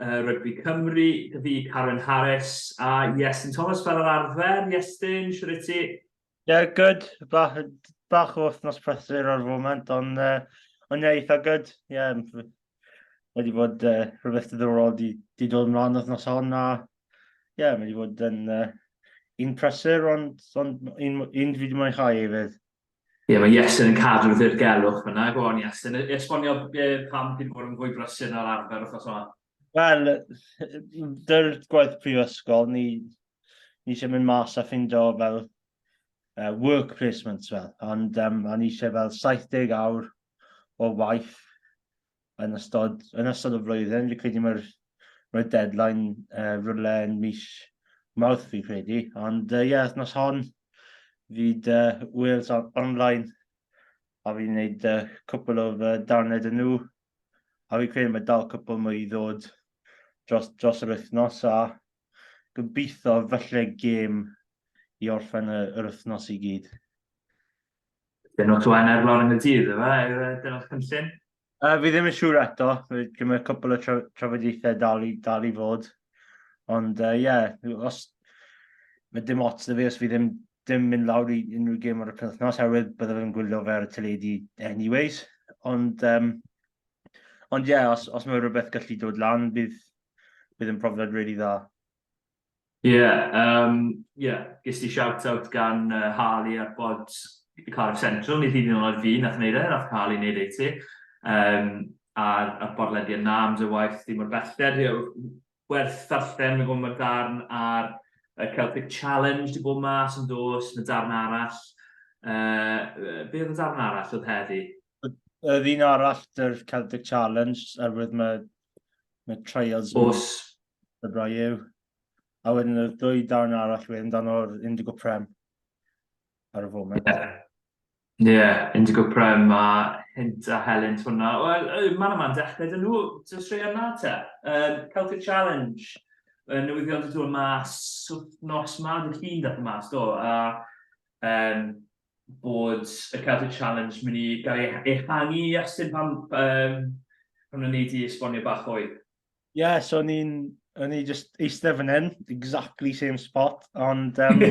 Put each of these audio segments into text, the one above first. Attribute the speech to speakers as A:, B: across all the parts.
A: Rygbi Cymru, da fi, Karen Harris a Iestyn Thomas fel yr arfer. Iestyn, siwr i ti? Ie, yeah, good.
B: Bach, bach o wythnos prysur ar foment, ond uh, on ie, eitha good. Ie, yeah, wedi bod uh, rhywbeth diddorol di, di dod ymlaen wythnos hon, a ie, yeah, wedi bod yn uh, un prysur, ond, ond un, un dwi wedi mwynhau hefyd. Ie, mae
A: Iestyn yn cadw'r ddirgelwch fyna. Go on, Iestyn. E- Esbonio e, pam chi'n bod yn fwy brysur na'r arfer wrth yma. Wel,
B: dy'r gwaith prifysgol, ni, ni eisiau mynd mas a ffindo fel uh, work placements fel, ond um, o'n eisiau fel 70 awr o waith yn ystod, yn ystod y flwyddyn. Fi'n credu mae'r mae deadline uh, rhywle yn mis mawrth fi'n credu. Ond ie, uh, yeah, nos hon, fydd uh, Wales on online a fi'n gwneud uh, cwpl o uh, darned yn nhw. A fi'n credu mae dal cwpl mwy i ddod dros, dros yr wythnos a gobeithio falle gêm i orffen yr wythnos i gyd.
A: Dyn nhw twa'n ar lawr yn y dydd, yma, dyna'r cynllun? Uh, fi ddim yn
B: siŵr eto, dwi'n meddwl cwpl o tra trafodaethau dal i, dal i fod. Ond ie, uh, yeah, os mae dim ots da fi os fi ddim, ddim mynd lawr i unrhyw gym ar y penthnos, herwydd byddaf yn gwylio fe ar y teledu anyways. Ond um, ond ie, yeah, os, os mae rhywbeth gallu dod lan, bydd, bydd yn profiad really dda. Ie, yym,
A: ie, ges i shout-out gan yy Harley ar bod y Cardiff Central, nid hyd yn oed fi nath neud e, nath Harley neud e i ti. Yym, a'r a'r bodlediad 'na am dy waith di mor belled, ie, werth ddarllen, fi'n gwbo ma'r darn ar y Celtic Challenge di bod mas yn dos, ma' darn arall, yy, be oedd y darn arall oedd heddi? Yr un
B: arall, yr Celtic Challenge, oherwydd ma' Mae trials... Os... Y bra yw. A wedyn y ddwy darn arall wedyn dan o'r Indigo Prem ar y foment. Ie, yeah. yeah,
A: Indigo Prem a Hint a Helen hwnna. Wel, man yma'n dechrau dyn nhw, ti'n sri yna te. Um, Celtic Challenge, uh, newyddion dyn nhw'n mas, nos ma, dyn chi'n dweud mas do, a um, bod y Celtic Challenge mynd i gael ei e-, ehangu i Aston pan, um, pan o'n i wedi esbonio bach fwy? Ie, yeah, so o'n
B: i'n o'n i just eistedd fan hyn, exactly same spot, ond um,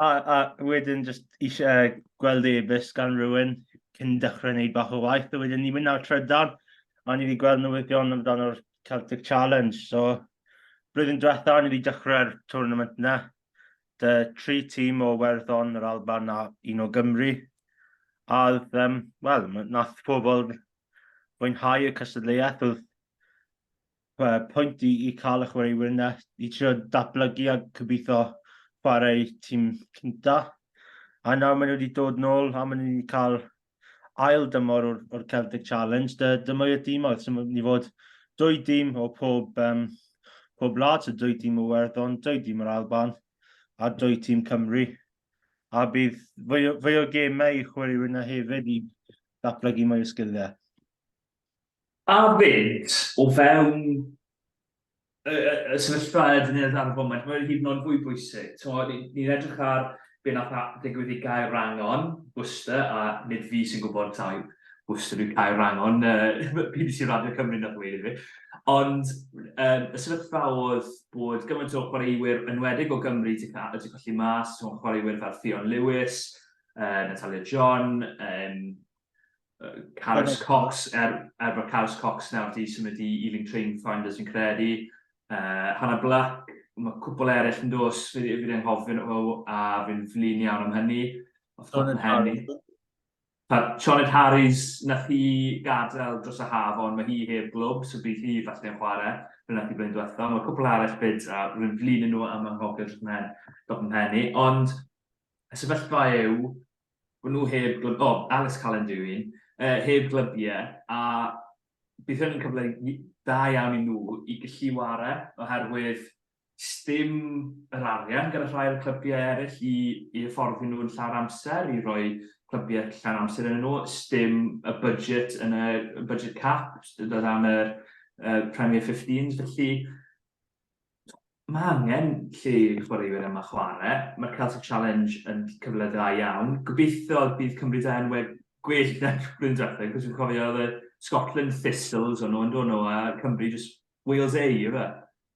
B: a, a wedyn just eisiau gweld e-bus gan rhywun cyn dechrau wneud bach o waith, a wedyn ni'n mynd ar trydan, a ni wedi gweld newyddion amdano'r Celtic Challenge, so blwyddyn diwetha ni wedi dechrau'r tournament yna, 'da tri tîm o Werddon, yr Alban a un o Gymru. A oedd, um, wel, nath pobl fwynhau y cystadleuaeth, oedd uh, pwynt i, i cael y chwaraewyr yna, i trio datblygu a cybitho chwarae tîm cynta. A nawr maen nhw wedi dod nôl a maen nhw wedi cael ail dymor o'r, or Celtic Challenge, dy, dyma i'r dimoedd, sy'n mynd i fod dwy dîm o pob, um, pob lad, so dwy dîm o Werddon, dwy dîm o'r Alban, a dwy tîm Cymru. A bydd fwy, fwy o gemau i chwaraewyr yna hefyd i ddatblygu mwy o sgiliau.
A: A fynd o fewn y y y sefyllfa ydyn ni ar y foment, mae hyd yn oed fwy bwysig. T'mod, ni ni'n edrych ar be' nath a- ddigwydd i Gaerwrangon, Worcester, a nid fi sy'n gwbod taw Worcester yw Caerwrangon, yy ma' bbc Radio Cymru nath ddweud i fi. Ond yym y sefyllfa o'dd bod gymaint o chwaraewyr enwedig o Gymru 'di ca- yy 'di colli mas, t'mo' chwaraewyr fel Ffion Lewis, yy Natalia John, yym Carys Cox, er, er bod Carys Cox nawr wedi symud i Ealing Train Finders yn credu. Uh, Hannah Black, mae cwpl eraill yn dos, fi wedi anghofyn o, a fi'n flin iawn am hynny. Sioned Harris. Sioned Harris, na chi gadael dros y haf, ond mae hi heb glwb, so bydd hi falle yn chwarae. Fe nath i blaen diwetha. Mae cwpl arall byd, a rwy'n flin yn nhw am anghofio dros mhen, dros mhen i. Ond, y sefyllfa yw, Bod nhw heb glwb, o, Alice Cullen dwi un, uh, heb glybiau, a bydd hyn yn cyfle da iawn i nhw i gallu ware, oherwydd stym yr arian gyda rhai o'r clybiau eraill i, i hyfforddi nhw yn llawer amser, i roi clybiau llawn amser yn nhw, stym y budget yn y budget cap, o dan yr uh, Premier 15, felly Mae angen lle i chwaraewyr yma chwarae. Mae'r Celtic Challenge yn cyfle dda iawn. Gobeithio bydd Cymru da yn wed gwell na blwyddyn diwethaf, cos fi'n cofio oedd y Scotland Thistles o'n nhw yn dod nhw, a Cymru just Wales A, yw e?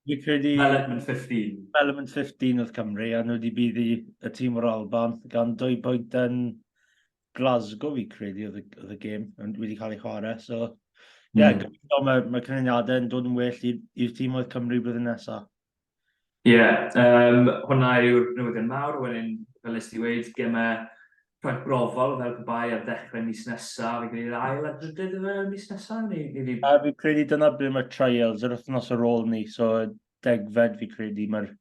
A: Fi'n credu...
B: Development 15.
A: Development 15
B: oedd Cymru, a nhw wedi buddi y tîm o'r Alban, gan dwy bwynt yn Glasgow fi credu oedd y, oedd y gêm yn wedi cael ei chwarae. So, ie, yeah, mm. gobeithio mae, mae canlyniadau yn dod yn well i'r tîm oedd Cymru blwyddyn nesaf. Ie, yeah, um,
A: hwnna yw'r newyddion mawr, wedyn, fel nes ti wedi, gemau rhaid brofol fel pe bai ar ddechrau mis nesaf, fe gwneud ail a drydydd y mis nesaf? Ni, ni fi... A fi credu
B: dyna ble mae trials yr wythnos ar ôl ni, so degfed fi credu mae'r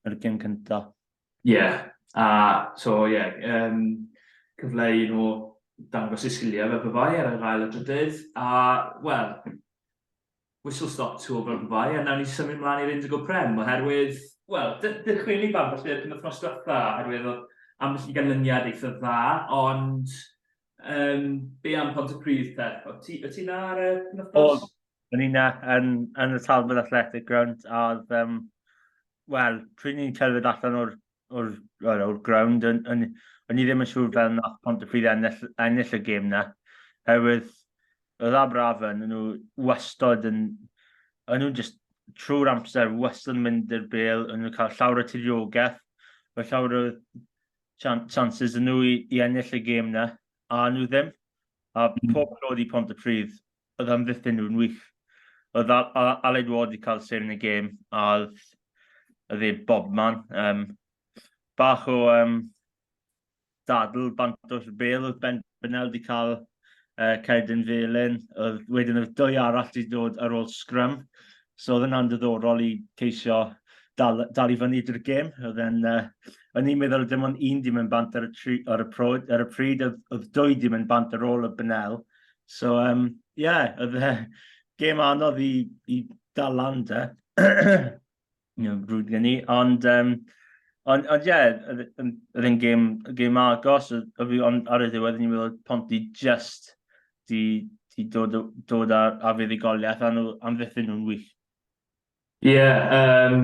B: mae gym cyntaf. Ie, a so ie, yeah,
A: um, cyfle i nhw dangos eu sgiliau fel byfai ar yr ail a drydydd, a wel, whistle stop to fel byfai, a nawn ni symud mlaen i'r Indigo Prem, oherwydd, wel, dychwyn i bam felly yr wythnos diwetha, oherwydd oedd ambell i ganlyniad eitha dda, ond um, be am pont y pryd te? O ti, o ti na ar y penwthnos? O'n i na,
B: yn, yn y Talbot Athletic Ground, a oedd um, wel, pryd ni'n cerdded allan o'r, o'r, o'r, o'r ground, o'n, o'n, o'n i ddim yn siŵr fel nath pont y ffydd ennill, ennill y gêm na. Herwydd, oedd Abrafen, nhw wastod yn, o'n nhw'n just trwy'r amser, wastod yn mynd i'r bel, o'n nhw'n cael llawr y tiriogaeth, o llawr y chances yn nhw i, i ennill y gêm na, a nhw ddim. A hmm. pob nod i pont y ffydd, oedd amddiffyn nhw'n wych. Oedd Aled Ward wedi cael sef yn y gêm, a oedd y dde bobman. Um, bach o um, dadl bant o'r bel oedd Ben Bynel wedi cael uh, Cedyn Felin. Oedd, wedyn oedd dwy arall wedi dod ar ôl sgrym. So oedd yna'n diddorol i ceisio dal, dal i fyny drwy'r gêm. Oedd e'n, uh, o'n i'n meddwl dim ond un di mynd bant ar y, tri, ar y, prod, ar y pryd, oedd, oedd dwy di mynd bant ar ôl y Bynel. So, um, yeah, oedd e gêm anodd i, i dal lan da. Rwy'n gen i, ond... Um, Ond, ond ie, oedd e'n gêm, gêm agos, oedd fi ond ar y ddiwedd ni'n meddwl Ponti just di, di dod, dod ar, ar fuddugoliaeth, a nhw amddiffyn nhw'n wych. Ie, yym,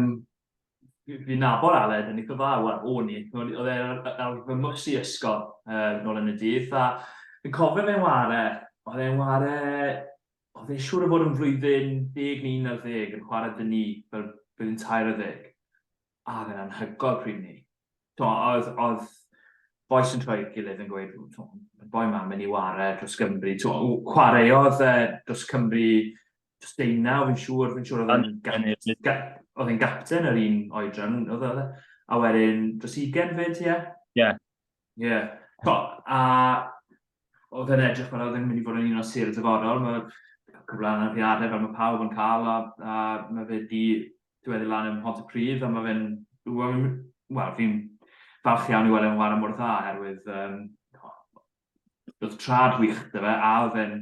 A: fi- fi'n nabod Aled yn eitha dda, wel, o'n i. O'n i- Oedd e ar ar fy mhws i ysgol yy nôl yn y dydd, a fi'n cofio fe'n ware, oedd e'n ware, oedd e'n siŵr o fod yn flwyddyn deg neu unarddeg yn chware 'da ni fel blwyddyn tair ar ddeg. a oedd e'n anhygoel pryd ni. Oedd, oedd boes yn troi gilydd yn gweud, y boi ma'n mynd i ware dros Gymru. Chwaraeodd e dros Cymru dros deunaw, fi'n siŵr, fi'n siŵr oedd e'n gapten yr un oedran. E? A wedyn dros ugen fyd, ie? Ie. Ie. Yeah. To, a oedd yn edrych fel oedd yn mynd i fod yn un o'n sir y dyfodol. Mae cyfle anafiadau fel mae pawb yn cael a, a mae fe di diweddu lan yn hont y pryd a mae fe'n... Wel, fi'n falch iawn i weld e'n wario mor dda oherwydd um, oedd trad wych dy fe a oedd e'n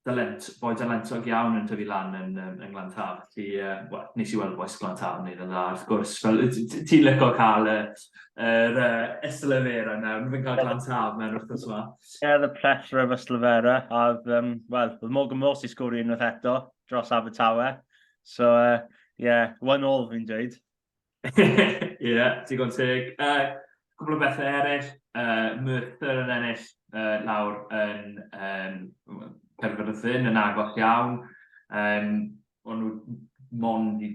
A: dalent, boi dalentog iawn yn tyfu lan yn, yn Glantaf. Ti, uh, well, nes i weld boes Glantaf yn neud yn dda, wrth gwrs. Fel, ti'n lyco cael y, yr uh, Yslefera nawr, fi'n cael Glantaf mewn wrth gwrs yma. Ie, the plethora
B: of Yslefera, a, um, wel, oedd Morgan Morse i sgwrdd unwaith eto dros Abertawe. So, uh, yeah, one all fi'n dweud. Ie, yeah, digon
A: teg. Uh, cwbl o bethau eraill, uh, Merthyr yn ennill uh, lawr yn um, Penfyrdd y Ffyn yn agos iawn. Um, o'n nhw mond i,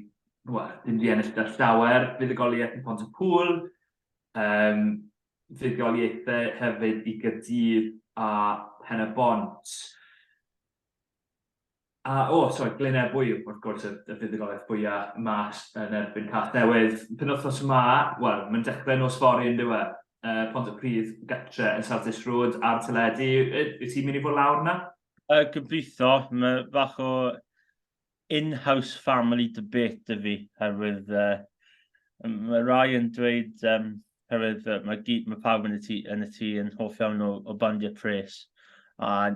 A: wel, dim di ennill da llawer, fuddugoliaeth i Pont y Pŵl, um, fuddugoliaethau hefyd i Gyrdydd a Pen y Bont. A, o, sori, Glyn Ebwy, wrth gwrs, y, y fuddugoliaeth fwyaf mas yn erbyn Cath Newydd. Penwthnos yma, wel, mae'n dechrau nos fori yn diwe. Uh, Pont y Pridd, gatre yn South Dish Road a'r teledu. Wyt ti'n mynd i fod lawr yna? Uh, gobeithio,
B: mae fach o in-house family debate y fi, herwydd uh, mae rai yn dweud um, Oherwydd uh, mae, mae pawb yn y tŷ yn, y tŷ yn hoff iawn o, o bandiau pres. A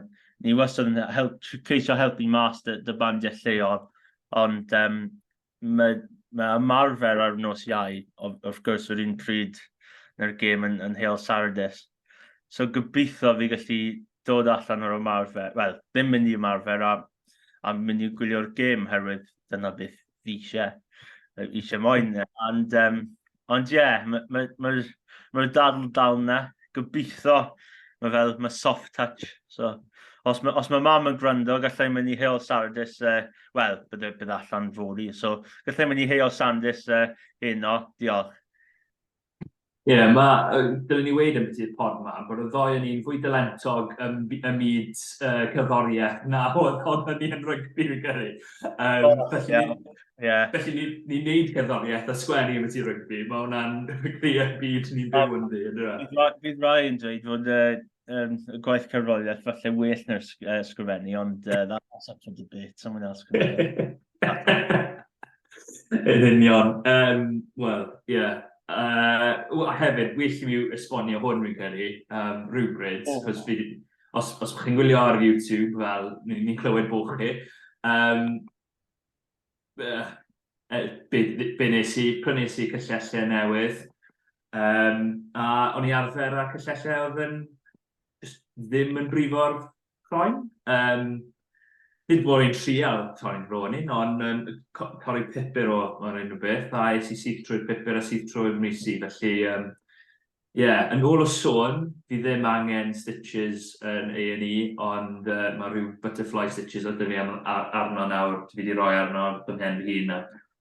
B: ni wastad yn help, ceisio helpu mas dy, dy bandiau lleol. Ond um, mae, mae ymarfer ar nos iau, wrth gwrs, yr un pryd na'r gêm yn, yn Hale Sardes. So gobeithio fi gallu dod allan o'r ymarfer, wel, ddim mynd i ymarfer a, a mynd i gwylio'r gêm herwydd dyna beth fi eisiau, fi eisiau moyn. Ond, um, ond ie, yeah, mae'r ma, ma, ma, ma dal, dal na. Gobeithio, mae fel, mae soft touch. So, os mae, os mae mam yn gwrando, gallai mynd i Heol Sardis, uh, wel, bydd, bydd allan fori. So, gallai mynd i Heol Sandis uh, heno. Diolch.
A: Ie, mae... dylwn i weud ambiti y pod 'ma, bod y ddou o ni'n fwy dalentog ym ym myd yy cerddoriaeth na oedd oedd hynny yn rygbi fi'n credu. Yym... O, felly... ie. ...felly ni'n ni'n neud cerddoriaeth a sgwennu ambiti rygbi, ma' hwnna'n clear y byd ni'n byw ynddi on'd yw e? Bydd rai- bydd rai yn
B: dweud fod y yym y gwaith cerddoriaeth falle well na'r sg- yy sgrifennu ond yy that's up for debate someone else can...
A: Yn union. Um, Wel, ie. Yeah. Uh, a hefyd, well i mi esbonio hwn fi'n credu, um, rhywbryd, oh. cos fi, os, os chi'n gwylio ar YouTube, fel, ni'n ni clywed bod chi, um, uh, be, be nes i, prynes i cyllellau newydd, um, a o'n i arfer â cyllellau oedd yn ddim yn brifo'r croen. Um, Nid bod i'n trial croen ro'n un, ond um, torri pupur o, o'r un o beth, a es i syth trwy'r pupur a syth trwy'r misi, felly um, yeah, yn ôl o sôn, fi ddim angen stitches yn A&E, ond uh, mae rhyw butterfly stitches oedd fi arno nawr, fi wedi rhoi arno fy mhen fy hun, a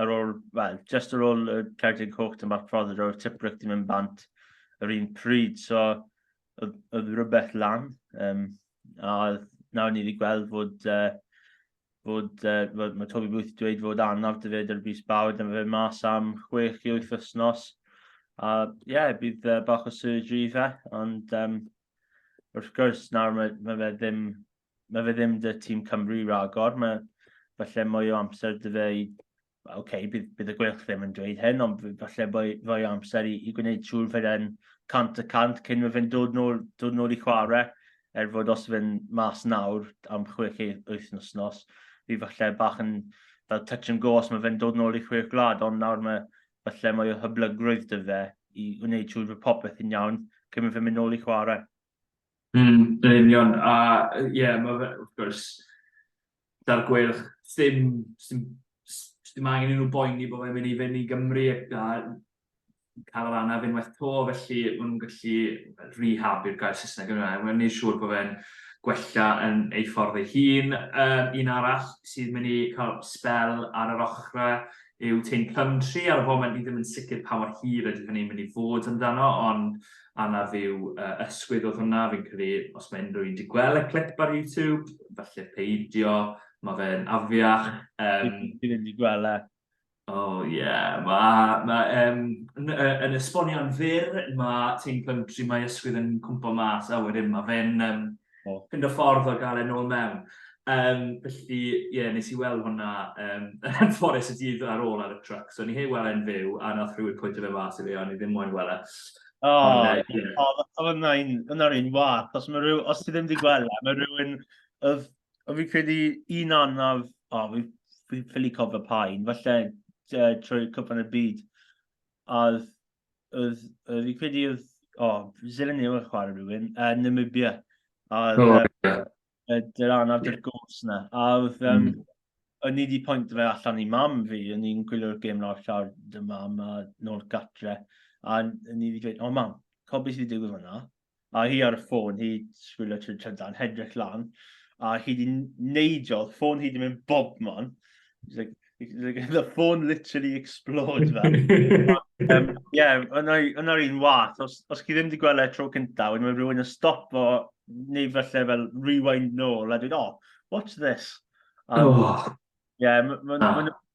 B: ar ôl, wel, just ar ôl y Ceredigion Coch dim bach prodded o'r Tiprick di mynd bant yr un pryd, so oedd rhywbeth lan. Um, a nawr ni wedi gweld fod, uh, fod, uh, fod mae Toby Booth wedi dweud fod anaf dy fyd ar y bus bawr, dyma fe mas am 6 i 8 wythnos. A ie, yeah, bydd uh, bach o surgery fe, ond um, wrth gwrs nawr mae, mae fe ddim mae fe ddim dy tîm Cymru ragor, mae falle mwy o amser dy fe i... Oce, okay, bydd, bydd y gwelch ddim yn dweud hyn, ond falle mwy, mwy o amser i, i gwneud siŵr fe fe'n cant y cant cyn mae fe'n dod nôl, dod nôl i chwarae, er fod os fe'n mas nawr am chwech wyth nos nos, fi falle bach yn fel touch and go os mae fe'n dod nôl i chwech gwlad, ond nawr mae falle mwy o hyblygrwydd dy fe i wneud siŵr bod popeth yn iawn cyn mae fe'n mynd nôl i chwarae. Mm, yn
A: union, a yy, ie, mae fe, wrth gwrs, da'r gweilch, ddim, ddim, ddim angen i nhw boeni bod fe'n mynd i fynd i Gymru a cael yr anaf unwaith to, felly maen nhw'n gallu rehab i'r gair Saesneg yna, mae'n gwneud siŵr bod fe'n gwella yn ei ffordd ei hun. Um, un arall sydd mynd i cael spel ar yr ochrau yw Tein Plumtree, ar y foment ni ddim yn sicr pa mor hir ydy hynny'n mynd i fod amdano, ond anaf i'w ysgwyd oedd hwnna, fi'n credu os mae unrhyw un wedi gweld y clip ar YouTube, falle peidio, mae fe'n afiach. Um, Fi ddim wedi
B: gweld e. O oh, ie, yeah. mae, ma,
A: um, yn, yn esbonio'n fyr, mae Tein Plumtree, mae ysgwyd yn cwmpo mas, a wedyn mae fe'n um, oh. fynd o ffordd o gael e'n ôl mewn. Um, felly, ie, yeah, nes i weld hwnna um, yn fforest y dydd ar ôl ar y truck. So, ni hei weld e'n fyw, a nath rhywun pwynt o fe mas i fi, a ni ddim moyn weld e. O,
B: oedd yna'r un wath. Os, rhyw, os ti ddim wedi gweld e, mae rhywun... Oedd, oedd fi'n credu un anaf... O, fi'n ffili cofio pa un. Falle uh, trwy cwpan y byd. A oedd oedd, oedd i credu oedd, o, oh, Zilyn New yn chwarae rhywun, uh, Namibia. A oedd, oh, yeah. uh, dy'r anaf dy'r gos yna. A oedd, um, mm. o'n i wedi pwynt fe allan i mam fi, o'n i'n gwylio'r gêm nawr llawr dy mam a nôl gatre. A o'n i wedi dweud, o oh, mam, cofio beth sydd wedi digwydd fyna? a hi ar y ffôn hi sbwylio trwy trydan hedrych lan a hi di neidio ffôn hi di mynd bobman it's like the phone literally exploded fel. um, yeah, yna'r un wath. Os, os chi ddim wedi gweld e tro cyntaf, wedyn mae rhywun yn stop o, neu felly fel rewind nôl, a dwi'n, oh, watch this. Um, oh. Yeah, mae'n ma, ma, ah.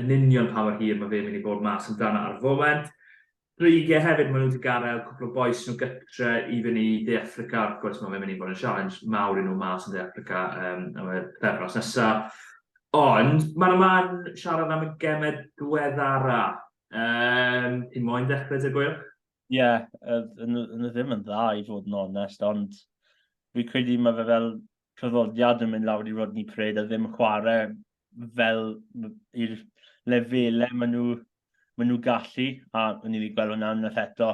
A: yn union pa mor hir mae fe'n mynd i fod mas amdano ar y foment. Brugge hefyd, maen nhw wedi gadael cwpl o bois nhw gytre i fyny i De Affrica, wrth gwrs mae fe'n mynd i fod yn sialens mawr i nhw mas yn De Affrica um, am y pethefnos nesaf. Ond mae'n ymlaen siarad am y gemau diweddara. Um, ti'n moyn dechrau dy gwyl? Ie, yeah,
B: yn y ddim yn dda i fod yn onest, ond fi credu mae fe fel traddodiad yn mynd lawr i Rodney Craig a ddim chwarae fel i'r lefelau maen nhw, maen nhw gallu, a o'n i wedi gweld hwnna unwaith eto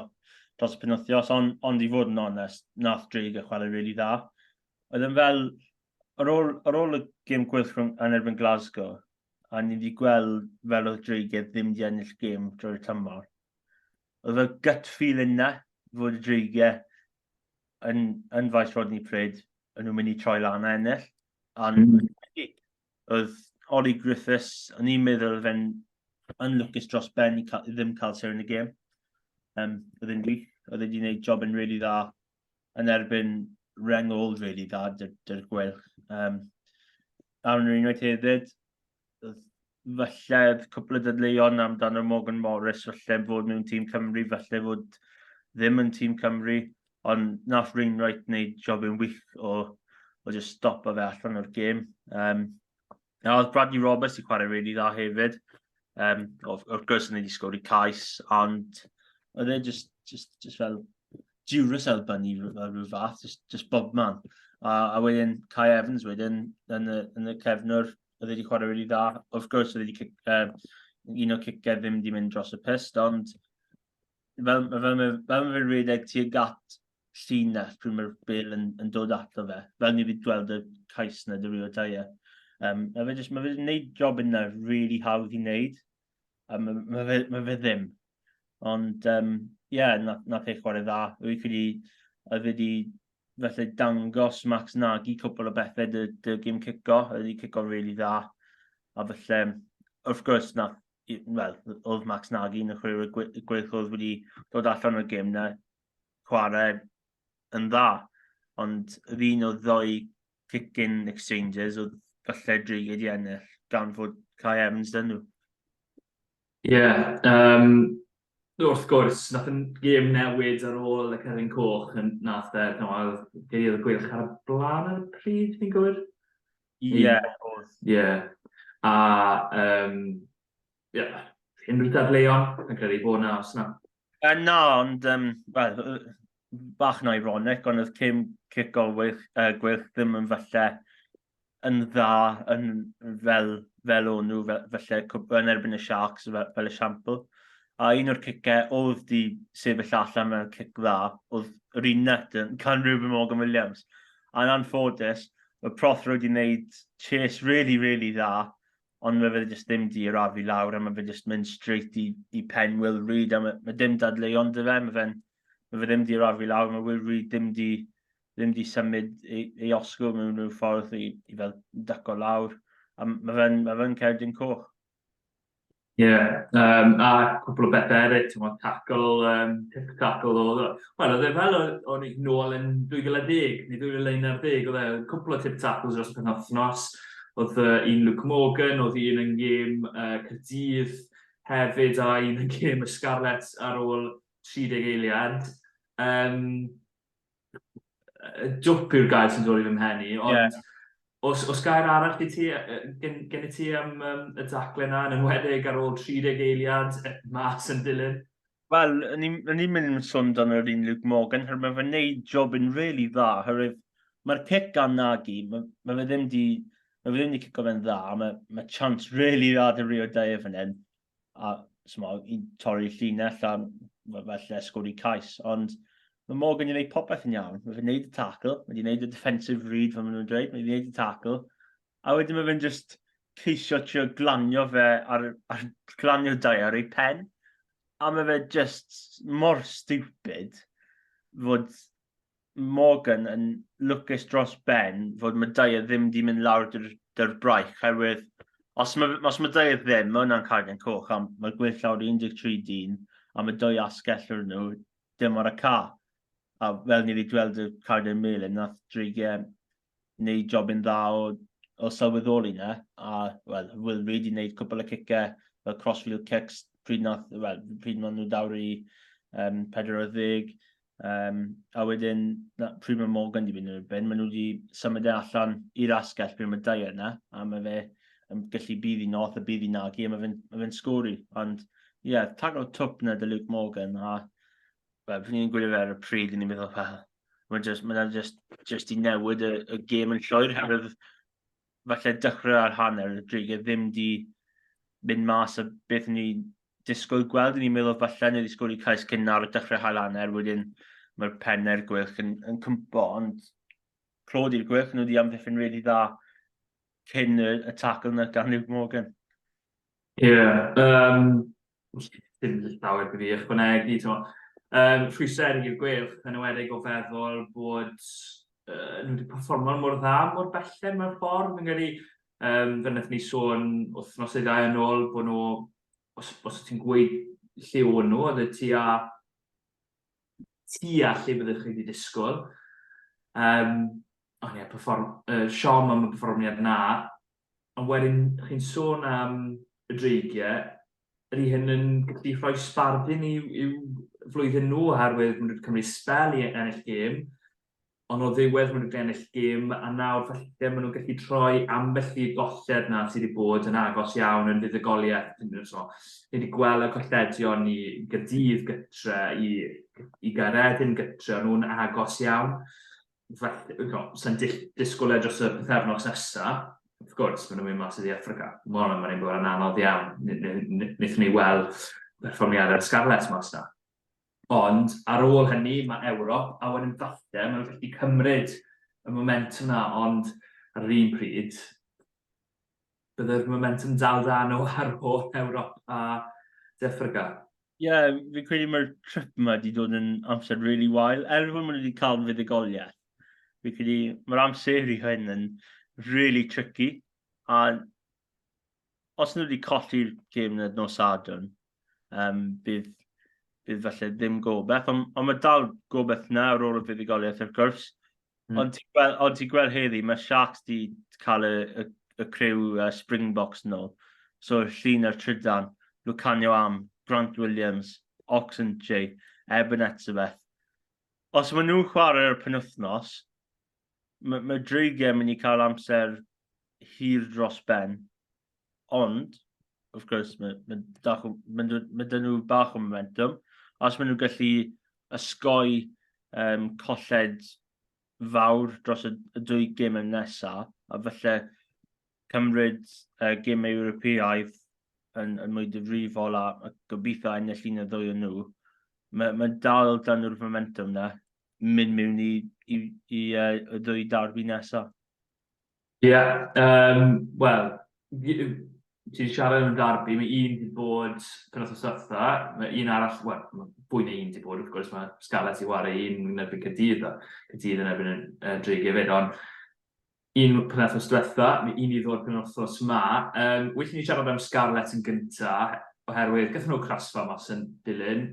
B: dros y penwthios, ond, ond i fod yn onest, nath Drake y chwarae rili really dda. Oedd yn fel, ar ôl, ar ôl y gym gwych rhwng yn erbyn Glasgow, a ni wedi gweld fel oedd Drake e ddim wedi ennill gym drwy'r tymor, oedd y gut feeling na, fod y Drake yn, yn faes Rodney Pryd, yn nhw'n mynd i troi lan a ennill. Ond mm. oedd Ollie Griffiths, o'n i'n meddwl oedd e'n yn lwcus dros ben i, cael, i ddim cael ser yn y gêm. Um, oedd e'n wych, oedd e'n gwneud job yn really dda yn erbyn reng old really dda dy'r dy gwelch. Um, Aaron yr unwaith hefyd, falle cwpl o ddadleuon amdano Morgan Morris, falle fod nhw'n tîm Cymru, falle fod ddim yn tîm Cymru, ond nath Rainwright wneud job yn wych o, o just stop o fe allan o'r gêm. Um, a oedd Bradley Roberts i chwarae really dda hefyd. Um, of, of gwrs, yn ei wedi sgori cais, ond oedd e just, just, just fel diwrus elban i rhyw fath, just, just bob man. A, a wedyn Kai Evans wedyn yn y, yn y cefnwr, oedd wedi chwarae rili dda. Wrth gwrs, oedd wedi uh, un o cicau ddim wedi mynd dros y pyst, ond fel, fel, fel, fel, fel fe'n rhedeg tuag at llinell pryd mae'r bel yn, yn dod ato fe. Fel ni wedi gweld y cais na dy Rio Taia. Um, a fe jyst, mae fe'n gwneud job yna really hawdd i wneud. A mae, mae, fe, mae fe ddim. Ond, ie, um, yeah, nath, nath ei chwarae dda. Rwy'n credu oedd wedi felly dangos Max Nagy cwbl o bethau dy, dy gym cico, ydy cico'n rili really dda. A felly, wrth gwrs, na, well, oedd Max Nagy yn y chwarae gweithio oedd wedi dod allan o'r gym na chwarae yn dda. Ond yr un o ddoi kicking exchanges oedd falle dreigyd i ennill gan fod Kai Evans dyn nhw. Ie, yeah, um,
A: Wrth gwrs, wnaeth y gêm newid ar ôl y cerfyn coch yn nath e, no, a geiriau y gweilch ar y blaen ar y pryd, fi'n gywir? Ie, yeah, oedd. Ie. Yeah. A, um, ie, yeah, unrhyw dadleuon, yn credu bod na, os na. Uh, na,
B: ond, um, well, bach yn ironic, ond oedd cym cic o gweilch, uh, gweilch ddim yn falle yn dda yn fel, fel o'n nhw, felly yn erbyn y Sharks fel, fel esiampl. A un o'r cicau oedd di sefyll allan mewn cic dda, oedd yr un net yn can Ruben Morgan Williams. A'n anffodus, y proth roed i wneud chase really, really dda, ond mae fe jyst ddim di arafu lawr a mae fe jyst mynd straight i, i pen Will Reid a mae, mae dim dadleuon dy fe, mae, fe'n, mae fe ddim di arafu lawr, mae Will Reid ddim di ddim wedi symud ei, ei osgo mewn rhyw ffordd i, i fel daco lawr. A mae fe'n ma fe cerdyn coch. Ie, yeah, um,
A: a cwpl o bethau eraill, ti'n meddwl, tackle, um, tip tackle o... Wel, oedd e fel o'n i'n nôl yn 2010, neu 2011, oedd e cwpl o tip tackles dros y penwthnos. Oedd uh, un Luke Morgan, oedd un yn gêm uh, Cyrdydd hefyd, a un yn gêm y Scarlets ar ôl 30 eiliad. Um, dwp yw'r gair sy'n dod i fy mhen i, ond yeah. os, os gair arall i ti, gen, gen i ti am um, y daclen yna, yn enwedig ar ôl 30 eiliad, e, mas yn dilyn? Wel,
B: o'n i'n mynd yn sôn dan yr un Luke Morgan, her mae fe'n neud job yn really dda, herwydd mae'r cic gan Nagy, mae, mae fe ddim di, mae fe ddim di cico fe'n dda, mae, mae chance really dda dy Rio Dyer fan hyn, a sma, i torri llinell a felly sgwri cais. Ond mae Morgan yn gwneud popeth yn iawn. Mae fe'n gwneud y tackle, mae fe'n gwneud y defensive read fel maen nhw'n dweud, mae fe'n gwneud y tackle. A wedyn mae fe'n just ceisio trio glanio fe ar, ar glanio dau ar ei pen. A mae fe just mor stupid fod Morgan yn lwcus dros ben fod Madeira ddim wedi mynd lawr dy'r braich, herwydd os mae, os mae Madeira ddim, mae hwnna'n cargen coch, a mae'r gwell lawr 13 dyn, a mae dwy asgell o'r nhw, dim ar y ca. A fel ni wedi gweld y cargen melyn, nath dreigiau wneud job yn dda o, o sylweddoli na, a well, Will Reid i wneud cwpl y cicau, fel crossfield kicks, pryd, nath, well, pryd maen nhw dawr i um, 40, um, a wedyn na, pryd mae Morgan wedi mynd yn y ben, maen nhw wedi symud e allan i'r asgell pryd mae dau yna, a mae fe yn gallu bydd i noth a bydd i nagi, a mae fe'n ma fe sgori, ond ie, yeah, tag o twp na dy Luke Morgan, a well, fi'n gwylio fe ar y pryd, ni'n meddwl, well, Mae'n jyst, mae yna jyst, jyst i newid y, y gêm yn llwyr, herwydd falle dechrau ar hanner y drig e ddim di mynd mas o beth ni disgwyl gweld. Ni'n meddwl falle ni wedi sgwrdd i cais cyn nawr o dechrau hael hanner, wedyn mae'r penner gwych yn, yn cympo, ond clod i'r gwych, nhw wedi amddiffyn rili dda cyn y, y tacl yna gan Luke Morgan. Ie, yym,
A: dim llawer gyda fi i ychwanegu, t'mo'. Yym, rhwystrau erg i'r Gweilch, yn enwedig o feddwl bod yy nhw 'di perfformio mor dda mor belled mewn ffordd. Fi'n credu, yym, fel naethon ni sôn wythnos neu ddau yn ôl, bo' nhw, os os ti'n gweud lle o'n nhw, oedd e tua tua lle byddech chi 'di disgwl. Yym, ond ie, perfform- yy siom am y perfformiad 'na. Ond wedyn chi'n sôn am y dreigiau, ydy hyn yn gallu rhoi sbardun i'w, i'w flwyddyn nhw oherwydd maen nhw wedi cymryd spel i ennill gêm, ond o ddiwedd maen nhw wedi ennill gêm a nawr falle maen nhw'n gallu troi ambell i golled na sydd wedi bod yn agos iawn yn fuddugoliaeth. Ni wedi gweld y colledion i Gydydd gytre, i, i Gaeredin gytre, ond nhw'n agos iawn. sy'n disgwyl e dros y pethefnos nesa, wrth gwrs, maen nhw'n mynd mas i ddi Africa. Mae hwnna'n mynd yn anodd iawn. Nethon ni weld perfformiadau'r Scarlets mas na. Ond ar ôl hynny, mae Ewrop, a wedyn falle, maen nhw'n gallu cymryd y momentum na, ond ar yr un pryd, Byddai'r momentwm dal da nhw ar ôl Ewrop a De Affrica. Ie, yeah,
B: fi'n credu mae'r trip yma wedi dod yn amser really wael, er fod nhw wedi cael fuddugoliaeth. Fi'n credu mae'r amser i hyn yn really tricky, a os nhw wedi colli'r gêm yn y nos Sadwrn, um, bydd, bydd falle ddim gobeith, ond, ond mae dal gobeith na ar ôl y fuddugoliaeth wrth gwrs. Mm. Ond ti'n gweld, ond ti gweld heddi, mae Sharks di cael y, y, y criw uh, Springboks yn ôl. So, llun ar trydan, Lucanio Am, Grant Williams, Oxen J, Eben Etzebeth. Os maen nhw'n chwarae'r penwthnos, mae ma dreigiau yn mynd i cael amser hir dros ben. Ond, wrth gwrs, mae, mae, dach, mae, mae dyn nhw bach o momentum. Os maen nhw'n gallu ysgoi um, colled fawr dros y, y dwy gym yn nesaf, a felly cymryd uh, gym Ewropeaidd yn, yn mwy difrifol a, a gobeithio ennill un o ddwy o nhw, mae, mae dal dan nhw'r momentum na. mynd mewn i, i, i uh, y ddwy darbi nesaf? Ie, yeah, um,
A: wel, ti'n siarad yn y darbi, mae un wedi bod penwth o sytha, mae un arall, wel, mae fwy na un wedi bod, wrth gwrs, mae Scarlett i wario un yn erbyn Cydydd, a Cydydd yn erbyn y Dreg hefyd, ond Yn y penwythnos diwetha, mi i ni ddod penwythnos ma, yym, well i ni siarad am Scarlets yn gynta, oherwydd gaethon nhw crasfa mas yn dilyn,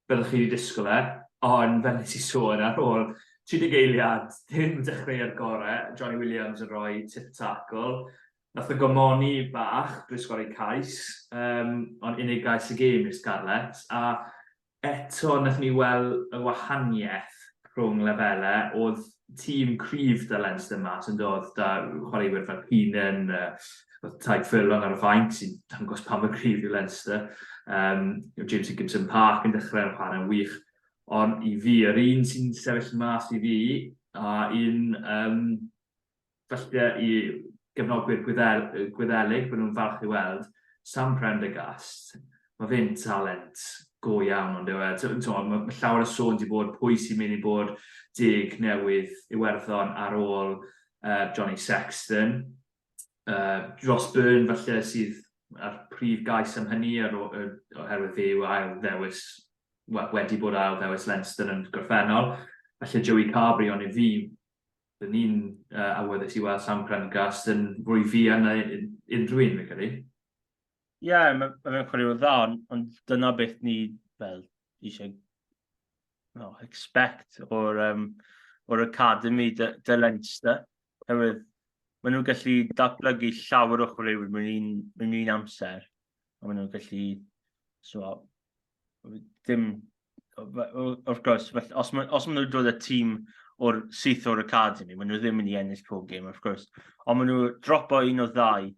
A: fel o'ch chi wedi disgwyl e, ond fel nes i sôn ar ôl 30 eiliad, dim dechreuad gore, Johnny Williams yn rhoi tip tacl, nath o gymoni bach drwy sgori cais, yym, ond unig gais y gêm i'r Scarlets, a Eto, wnaethon ni weld y wahaniaeth rhwng lefelau. Oedd tîm cryf 'da Leinster mas, yn doedd, 'da chwaraewyr fel Keenan, oedd Tadhg Furlong ar y fainc, sy'n dangos pa mor gryf yw Leinster. Um, James Higginson Park yn dechrau yn chwarae'n wych. Ond i fi, yr un sy'n sefyll mas i fi, a un um, Falle i gefnogwyr Gwyddelig, bydden nhw'n falch i weld Sam Prendergast. Mae fe'n talent go iawn, ond yw e, mae llawer o sôn wedi bod pwy sy'n mynd i bod deg newydd Iwerddon ar ôl uh, Johnny Sexton. Uh, Ross Byrne falle sydd a'r prif gais am hynny ar ôl, oherwydd fe yw ail ddewis, wedi bod ail ddewis Leinster yn gorffennol. Felly Joey Carberry, ond i fi, Dyn ni'n uh, awyddus i weld Sam Prendergast yn fwy fuan na unrhyw un, fe credu. Ie,
B: yeah, mae'n ma chwarae'n dda, ond dyna beth ni fel, eisiau no, expect o'r, um, or academy dy, dy Leinster. Herwydd, maen nhw'n gallu datblygu llawer o chwaraewyr mewn un, mewn un amser. A maen nhw'n gallu so, ddim, wrth gwrs, os maen ma nhw'n dod y tîm o'r syth o'r academi, maen nhw ddim yn ei ennill pob gêm, wrth gwrs. Ond maen nhw dropo un o ddau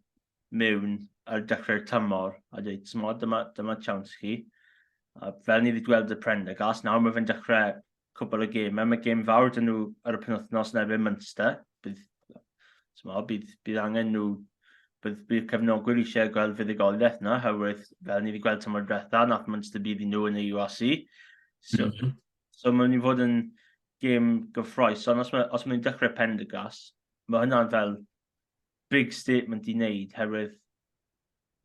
B: mewn ar dechrau'r tymor a dweud, tymod, dyma, dyma chawns chi. A fel ni wedi gweld y Prendergast, nawr mae fe'n dechrau cwbl o gemau. Mae gem fawr dyn nhw ar y penwthnos yn erbyn Munster. Bydd, mo, bydd, bydd angen nhw, bydd, bydd cefnogwyr eisiau gweld fuddugoliaeth yna, herwydd fel ni wedi gweld tymor diwetha, nath Munster bydd i nhw yn y URC. So, mm -hmm. so mae'n ni fod yn gem gyffroes, ond os mae'n mae dechrau pen dy gras, mae hynna'n fel big statement i wneud, herwydd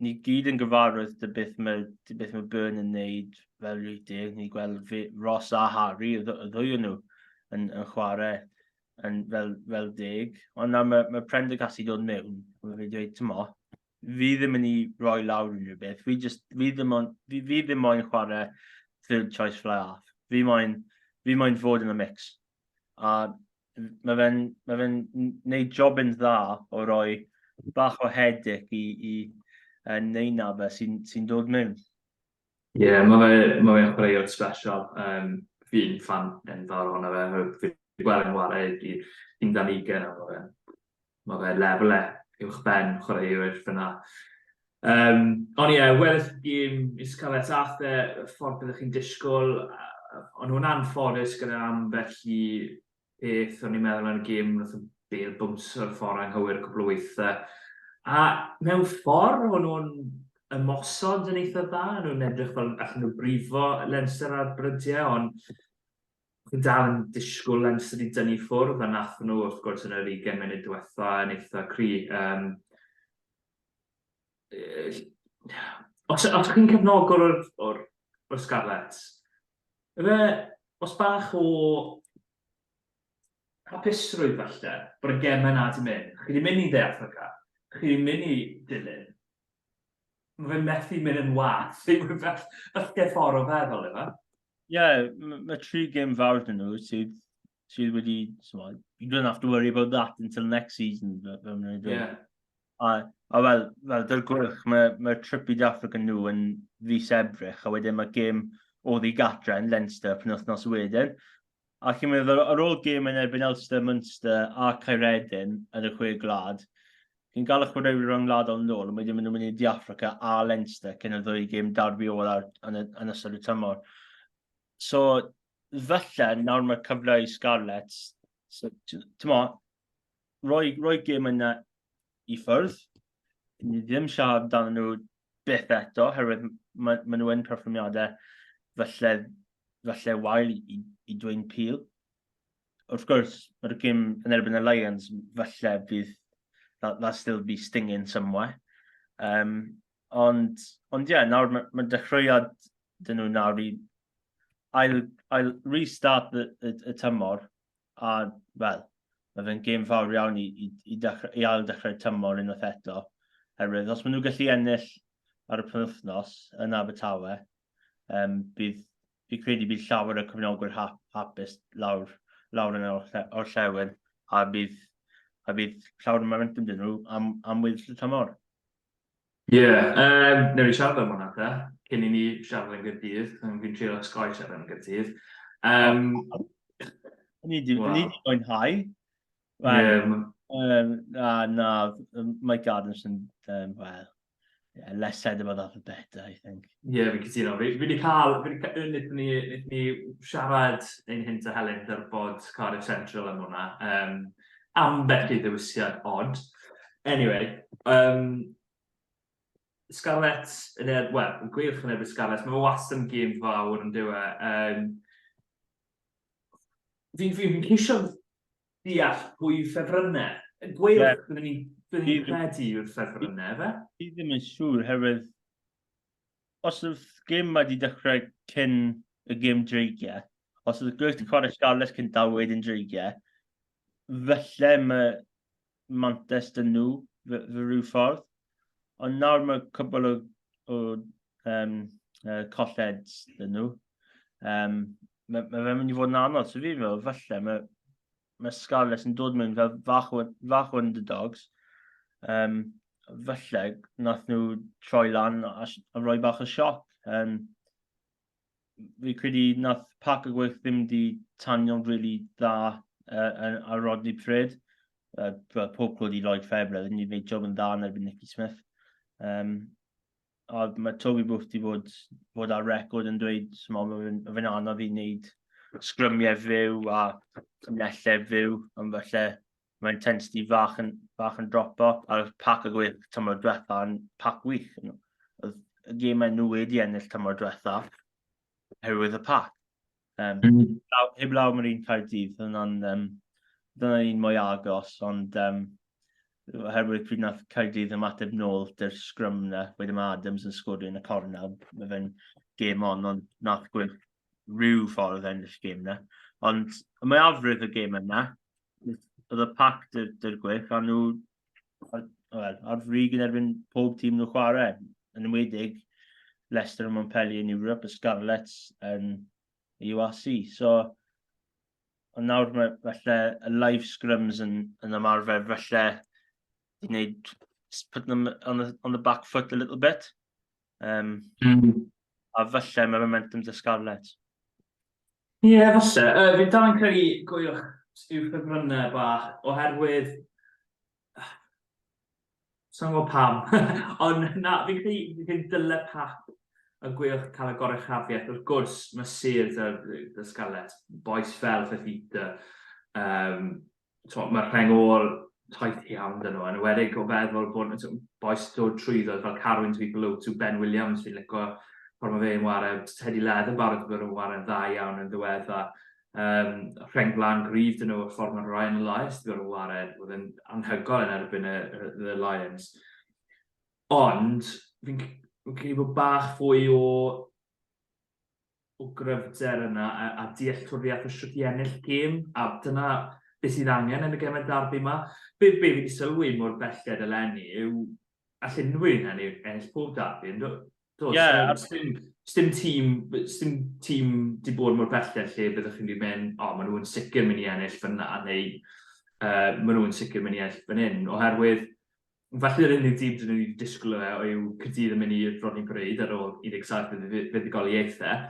B: ni gyd yn gyfarwydd dy beth mae, dy beth mae Byrne yn wneud fel rhywdeg, ni gweld fe, Ross a Harry, y ddwy nhw, yn, yn chwarae yn fel, fel deg. Ond nawr mae, mae Prendergast i dod mewn, mae fe dweud, ti'n mo, fi ddim yn ei roi lawr unrhyw beth, fi, just, fi, ddim, on, fi, fi ddim moyn chwarae third choice fly half, fi moyn, fi moyn fod yn y mix. A mae fe'n ma fe neud job yn dda o roi bach o hedyc i, i uh, neina fe sy'n sy dod mewn. Ie, yeah,
A: mae fe, ma fe chwaraewr special. Um, fi'n fan yn fawr ohono fe. Fi wedi gweld yn wario i'r un dan ugen am fe. mae fe lefel e uwch ben chwaraewyr fyna. Um, ond ie, yeah, wedi'r gym i Scarlett ath e y ffordd byddwch chi'n disgwyl, ond nhw'n anffodus gyda am felly beth o'n i'n meddwl yn y gym, nath y bel bwns o'r ffordd anghywir cwbl o weithiau. A mewn ffordd, o'n nhw'n ymosod yn eitha dda, nhw'n edrych fel allan nhw brifo lenser ar brydiau, ond Fi'n dal yn disgwyl am sut i dynnu ffwrdd, a nath nhw wrth gwrs yn yr 20 munud diwetha yn eitha cry. Um, os, os chi'n cefnogwr o'r, or, or Scarlets, efe, os bach o hapusrwydd falle, bod y gemau na di mynd, chi di mynd i dde Africa, chi di mynd i dilyn, Mae fe'n methu mynd yn wath. Ysgef ffordd o feddwl, efo. Ie, yeah,
B: mae tri gym fawr dyn nhw sydd, sydd wedi, smod, you don't have to worry about that until next season, fel mae'n dweud. Yeah. A, a fel, fel dy'r gwych, mae, mae trip i Africa nhw yn fus ebrych, a wedyn mae gym o ddi gatra yn Leinster pyn wythnos wedyn. A chi'n meddwl, ar ôl gêm yn erbyn Elster, Munster a Caeredin yn y chwe glad, chi'n gael y chwaraewyr rhwng gwladol yn ôl, ond wedyn maen nhw'n mynd i De Africa a Leinster cyn y ddwy gêm darbi ola yn, y, yn ystod y tymor. So, felly, nawr mae'r cyfle i Scarlets. So, ti'n mo, rhoi, rhoi gym yna i ffwrdd. Ni ddim siarad dan nhw beth eto, herwydd maen ma nhw yn perfformiadau falle, falle wael i, i, i dweud pil. Wrth gwrs, mae'r gym yn erbyn y Lions, falle bydd that, that still be stinging somewhere. Um, ond, ond ie, yeah, nawr mae ma dechreuad dyn nhw nawr i ail, ail restart y, y, y tymor A, wel, mae fe'n gêm fawr iawn i, i, i, dechrau, i ail dechrau'r tymor unwaith eto. Herwydd, os maen nhw'n gallu ennill ar y penwthnos yn Abertawe, um, bydd, fi credu bydd llawer y cyfnogwyr hap, hapus lawr, lawr yn o'r llewyr, a bydd, a bydd llawer y momentum dyn nhw am, am wedi'r tymor. Ie, yym,
A: newn ni siarad am hwnna ta, cyn i ni siarad am Gaerdydd, achos fi'n trio osgoi siarad am Gaerdydd. Yym...
B: Ni 'di mwynhau. Ie. Na, na, mae Gardens yn, wel, less said about that the better, I think. Ie, fi'n cytuno.
A: Fi 'di cael, fi 'di ca-, yy, nethon ni, nethon ni siarad ein hynt a Helen ar y pod Cardiff Central am hwnna, yym, ambell i ddewisiad odd. Anyway, um, Scarlett, yn er, wel, yn gwych yn erbyn Scarlett, mae fe wastad yn gêm fawr yn diwe. Um, fi'n fi, fi ceisio deall pwy ffefrynnau. Gweilch, yeah. byddwn ni'n credu yw'r ffefrynnau, fe? Fi ddim yn siŵr,
B: herwydd os oedd gym wedi dechrau cyn y gym dreigiau, os oedd Gwyth Corris Garles cyn dal wedyn dreigiau, felly mae Mantes dyn nhw fy, fy rhyw ffordd. Ond nawr mae cwbl o, o um, uh, colled dyn nhw. Um, mae, mae fe'n mynd i fod yn anodd, so fi'n meddwl, falle, mae, mae Scarlets yn dod mewn fel fach o, fach o underdogs. Um, falle nath nhw troi lan a, a roi bach o sioc. Um, fi credu nath pac y gweith ddim di tanio'n rili really dda uh, ar Rodney Pred. Uh, pob clod i Lloyd Fabre, ddim wedi gwneud job yn dda yn erbyn Nicky Smith. Um, a mae Toby Booth wedi bod, bod ar record yn dweud mae fe'n fe anodd i wneud sgrymiau fyw a cymnellau fyw, ond felly mae intensity fach yn, fach yn dropo, a'r pac y gwych tymor diwetha yn pac wych. Oedd y gemau nhw wedi ennill tymor diwetha, herwydd y pac. Um, mm. heblaw, heblaw mae'r un Caerdydd, hwnna'n um, dyna un mwy agos, ond um, oherwydd pryd nath Caerdydd ymateb nôl dy'r sgrym na, wedyn mae Adams yn sgorio yn y corna, mae fe'n gêm on, ond nath gwyn rhyw ffordd yn y gêm na. Ond mae afrydd y gêm yna, oedd y pac dy'r gwych, a nhw wel, ar frig yn erbyn pob tîm nhw'n chwarae, yn ymwedig Leicester a Montpellier yn Europe, y Scarlets yn y UAC. So, ond nawr mae falle y live scrums yn, yn ymarfer, falle i wneud, put them on the, on the back foot a little bit. Um, mm. A falle mae momentum dy Scarlett. Ie, yeah, falle.
A: Uh, fi'n dal yn credu gwy'ch Stu Ffefrynnau bach, oherwydd... Sa'n gwybod pam. Ond na, fi'n credu fi'n dyle pap y gwy'ch cael y gorau chafiaeth. Wrth gwrs, mae Sir dy, dy Scarlett, boes fel Fefita, um, Mae'r ma rheng ôl taith iawn dyn nhw, yn ywedig o feddwl bod nhw boes dod trwyddoedd fel Carwyn to be below to Ben Williams, fi'n licio ffordd mae fe'n warau, Teddy Leather barod i bod yn warau'n dda iawn yn ddiwedda. Um, rheng flan gryf dyn nhw o'r ffordd mae Ryan Elias wedi bod yn warau, oedd yn anhygol yn erbyn y, y, y Lions. Ond, fi'n credu bod bach fwy o o gryfder yna a a dealltwriaeth o shwt i ennill gêm a dyna be sydd angen yn y gemau'r darbi ma. Be be fi di sylwi mor belled eleni yw all unrhyw un enni- ennill pob darbi yndo? Do, Ie, so ar- sdim sdim tîm sdim tîm di bod mor belled lle byddwch chi'n di mynd o ma' nhw yn sicr mynd i ennill fynna neu yy ma' nhw yn sicr mynd i ennill fan hyn oherwydd Felly yr unig dim dyn ni wedi disgwyl o fe yw Caerdydd yn mynd i Rodney Parade ar ôl 17 yn y fuddugoliaethau,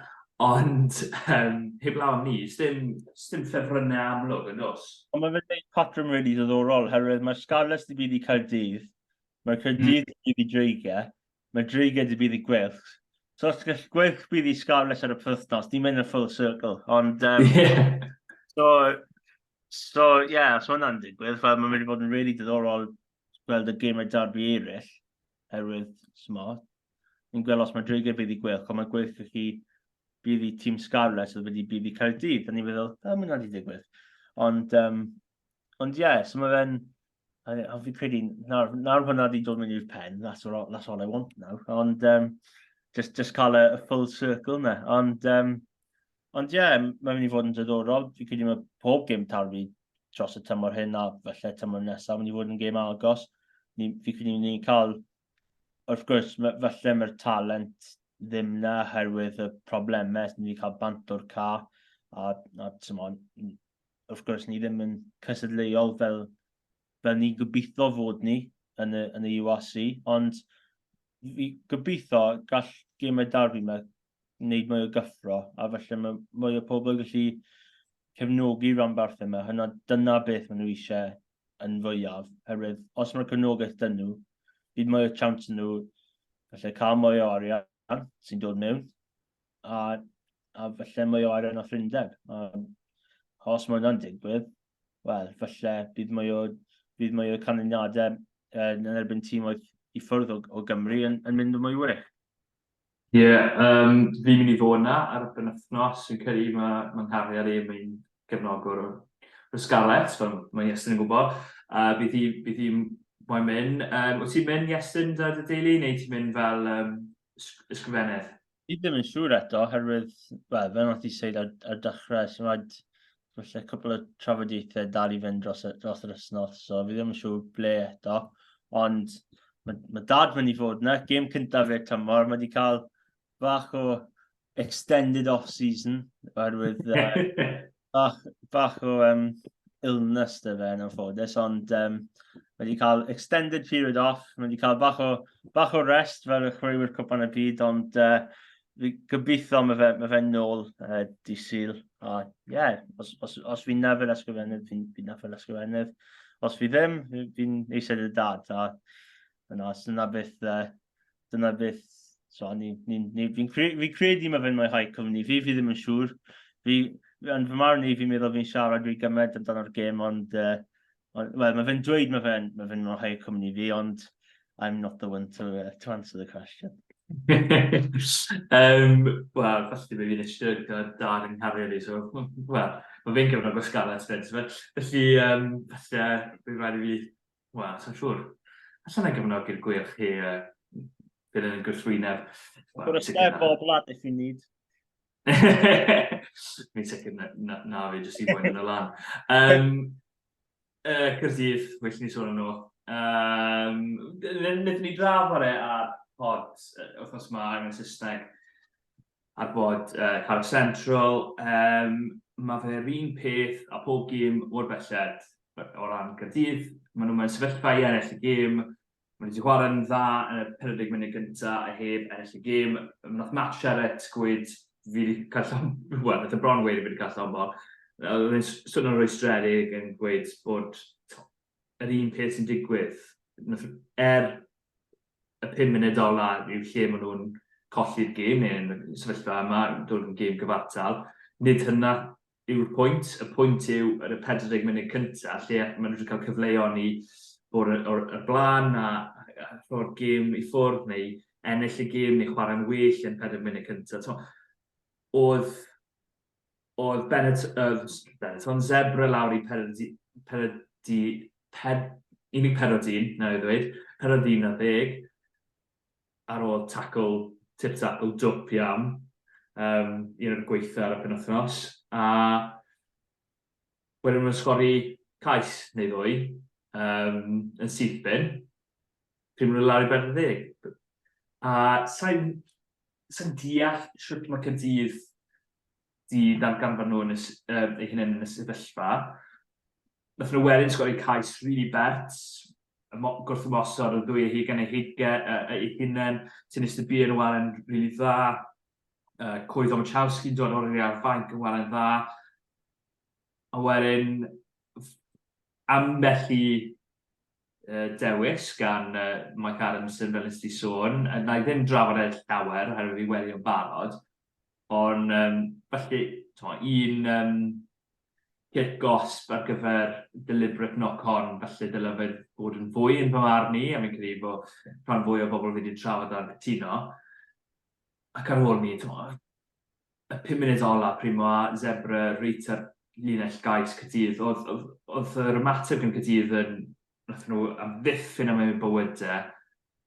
A: ond um, heblaw am ni, sdim, sdim ffefrynnau amlwg yn nos. Ond mae fe'n gwneud patrwm
B: rili really ddoddorol, herwydd mae'r Scarlets di bydd i Caerdydd, mae'r hmm. Caerdydd di bydd i Dreigiau, mae Dreigiau di bydd i Gwylch. So os gall Gwylch bydd i Scarlets ar y pwythnos, ni'n mynd yn full circle. Ond, um, yeah. so, So, ie, yeah, so hwnna'n digwydd. Fel, mae'n mynd i fod yn really diddorol gweld y gemau darbi eraill, herwydd smot. Ni'n gweld os mae Drege bydd i gwelch, ond mae'n gweithio chi bydd i tîm Scarlets oedd wedi bydd i cael dydd. A ni'n meddwl, da, mae'n wedi digwydd. Ond, um, ond ie, yeah, so mae fe'n a, a fi credu, nawr, nawr hwnna wedi dod mewn i'r pen, that's all, that's all I want now. Ond, um, just, just cael y, y full circle na. Ond, um, ond ie, yeah, mae'n mynd i fod yn dydorol. Fi credu mae pob gym tarfu dros y tymor hyn a felly tymor nesaf, mynd i fod yn gym agos. Ni, fi credu ni'n cael, wrth gwrs, felly mae'r talent ddim na herwydd y problemau, ni'n cael bant o'r ca, a, a tymor, wrth gwrs, ni ddim yn cysadleuol fel, fel ni'n gobeithio fod ni yn y, yn y URC, ond fi gobeithio gall gemau darbi yma wneud mwy o gyffro, a felly mae mwy o pobl yn gallu cefnogi ranbarth yma. Hynna, dyna beth maen nhw eisiau yn fwyaf, herwydd os mae'r cefnogaeth dyn nhw, bydd mwy o chance nhw gallu cael mwy o arian sy'n dod mewn, a, a falle mwy o arian o ffrindeb. os mae hwnna'n digwydd, wel, falle bydd mwy o, bydd mwy o canlyniadau yn erbyn tîm oedd i ffwrdd o, o Gymru yn, yn mynd yn mwy wych. Ie, yeah,
C: um, fi'n mynd i fod yna ar y penwthnos, yn credu mae ma nghariad i, mae'n gefnogwr o, o Scarlets, fel mae Iestyn yn gwybod, a uh, bydd hi'n hi, hi mae'n mynd. Um, wyt ti'n mynd, Iestyn, da dy deulu, neu ti'n mynd fel um, ysgrifennydd? Fi ddim yn
B: siŵr eto, herwydd, wel, fe wnaeth i seid ar, ar dechrau, sy'n rhaid, felly, cwpl o trafodiaethau dal i fynd dros, dros yr ysnos, so fi ddim yn siŵr ble eto, ond mae, mae dad mynd i fod yna, gêm cyntaf fe tymor, mae wedi cael bach o extended off-season, oherwydd bach, bach o um, illness dy fe yn anffodus, ond um, mae wedi cael extended period off, mae wedi cael bach o, bach o rest fel y chwaraewyr cwpan y byd, ond uh, fi gobeithio mae fe, mae fe nôl uh, di syl. A ie, yeah, os, os, os fi'n nafel ysgrifennydd, fi'n fi nafel ysgrifennydd. Os fi ddim, fi'n eisiau dy dad. A yna, os yna beth uh, dyna beth, so, ni, ni, ni, fi'n cre, fi credu mae fe'n mwynhau cwmni fi, fi ddim yn siŵr. Fi, yn fy marn i, fi'n meddwl fi'n siarad rhy gymaint amdano'r gêm, ond, uh, on, well, mae fe'n dweud mae fe'n mae fe mwynhau cwmni fi, ond I'm not the one to, uh, to answer the question.
C: um, Wel, felly mae fi'n eisiau gyda'r dar yn cario ni, so, wel, mae fe'n cyfnod o sgalet, felly, um, felly, uh, fi'n rhaid i fi Wel, so'n siŵr. Alla na gefnogi'r gweilch hi a bydd yn gwrthwyneb. Gwr ystef
B: bob lad eich i nid.
C: Mi'n sicr na, na, na fi jyst i boen yn y lan. Um, uh, Cyrdydd, well ni sôn yno. Um, Nid ni draf ar e ar pod, wrth os mae angen Saesneg. Ar bod Carreg Central, yym, ma' fe'r un peth a phob gêm o'r belled, o ran Caerdydd, ma' nhw mewn sefyllfa i ennill y gêm, ma' nhw 'di chwarae'n dda yn y 40 munud gynta a heb ennill y gêm, wnaeth Matt Sherratt gweud fi 'di cael llon-, wel, wnaeth e bron weud fi 'di cael llond bol, oedd e'n swnio'n rwystredig yn gweud bod, tibod, yr un peth sy'n digwydd. Er y pum munud ola yw lle maen nhw'n colli'r gêm neu yn y sefyllfa yma, dod yn gêm gyfartal, nid hynna yw'r pwynt. Y pwynt yw yn y 40 munud cyntaf lle maen nhw wedi cael cyfleon i bod o'r blaen a rhoi'r gêm i ffwrdd neu ennill y gêm neu chwarae'n well yn 40 munud cyntaf. Oedd oedd Benetton Zebra lawr i Peredu, Peredu, Ped, unig Perodin, na i ddweud, Perodin na ddeg, ar ôl tacl tip-tap o dwp iawn, um, un o'r gweitha ar y penwthnos, a wedyn nhw'n sgori cais neu ddwy um, yn syth bin, pryd maen nhw lawr i bedwar ddeg. A sain sy'n deall sut mae Caerdydd di darganfod nhw yn ei hunain yn y sefyllfa. Nath nhw wedyn sgori cais rili really bert, gwrthymosod o ddwy eich gan ei heige ei hunain, sy'n eistedd bu yn waren rili really dda. Uh, Cwydd Omachowski'n dod o'r i'r fanc yn waren dda. A wedyn, ambell i dewis gan Mike Adamson, fel nes di sôn. Na i ddim drafod e llawer, oherwydd fi wedi o'n barod. Ond, um, felly, to, un um, cyrc gosb ar gyfer deliberate knock-on, felly dylai fe bod yn fwy yn fy marn i, a fi'n credu bod rhan fwy o bobl wedi trafod ar gytuno. Ac ar ôl ni, to, y pum munud ola, Primo a Zebre reit ar linell gais Cydydd. Oedd, oedd, oedd yr ymateb yn Cydydd yn, nath nhw amddiffyn am eu bywydau.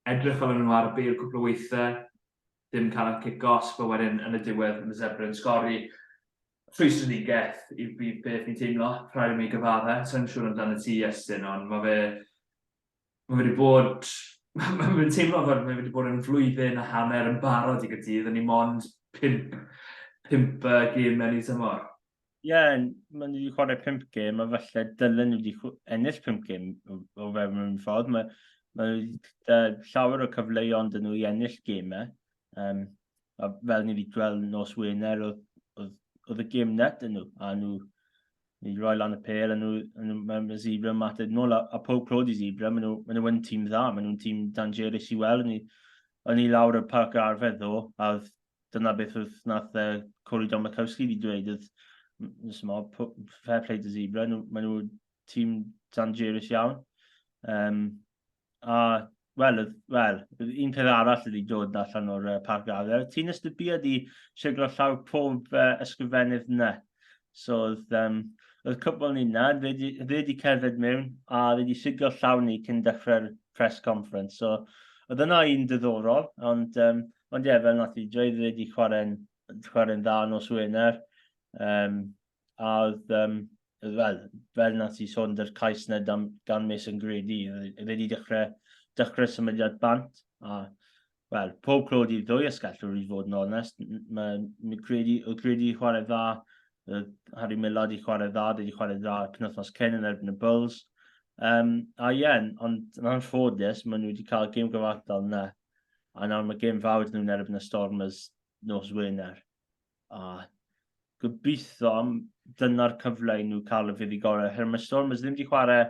C: Edrych fel nhw ar y beir cwpl o weithiau, ddim cael y cic os, fe wedyn yn y diwedd yn y Zebre yn sgori. Rhwystredigaeth i beth fi'n teimlo, rhaid i mi gyfadde. Sa'n siŵr amdano ti, Iestyn, ond mae fe Mae wedi bod... mae'n teimlo fel mae wedi bod yn flwyddyn a hanner yn barod i Gaerdydd, o'n i mond pimp, pimp uh, gêm mewn i tymor. Ie, yeah,
B: maen nhw wedi chwarae pimp gêm, a falle dylen nhw wedi ennill pimp gêm o fewn un ffordd. Mae, mae nhw wedi llawer o cyfleuon dyn nhw i ennill gemau, Um, a fel ni wedi gweld nos Wener, oedd, oedd, oedd y gym net yn nhw, a nhw wedi rhoi lan y pel, a nhw, nhw mae, mae Zebra yn mateb nôl, a, a pob clod i Zebra, maen nhw, maen nhw yn tîm dda, maen nhw'n tîm dangerous i weld, ni, o'n i lawr y parc ar arfer ddo, a dyna beth oedd nath uh, Corey Don Makowski wedi dweud, oedd nes yma, fair play to Zebra, nhw, maen nhw tîm dangerous iawn. Um, A, wel, wel, un peth arall ydy dod allan o'r uh, parc addel. Ti'n ystybiad i siglo llaw pob uh, ysgrifennydd yna. So, oedd, um, oedd cwbl ni yna, fe wedi cerdded mewn a fe wedi siglo llaw ni cyn dechrau'r press conference. So, oedd yna un diddorol, ond, um, ond ie, fel nath i dweud, fe wedi chwarae'n chwarae dda nos Wener. Um, A oedd, um, fel, fel na ti sôn, dy'r cais na gan Miss yn gred i, oedd wedi dechrau, dechrau symudiad bant, a wel, pob clod i'r ddwy ysgellwr i fod yn onest. Mae O'Grady, O'Grady chwarae dda, Harry Millard i chwarae dda, wedi chwarae dda cynnythnos cyn yn erbyn y Bulls. Um, a ie, yeah, ond yn anffodus, maen nhw wedi cael gêm gyfartal yna. A nawr mae gêm fawr nhw'n erbyn y Stormers nos Wener. A gobeithio am dyna'r cyfle i nhw cael y fyddi gorau. Her mae Stormers ddim wedi chwarae,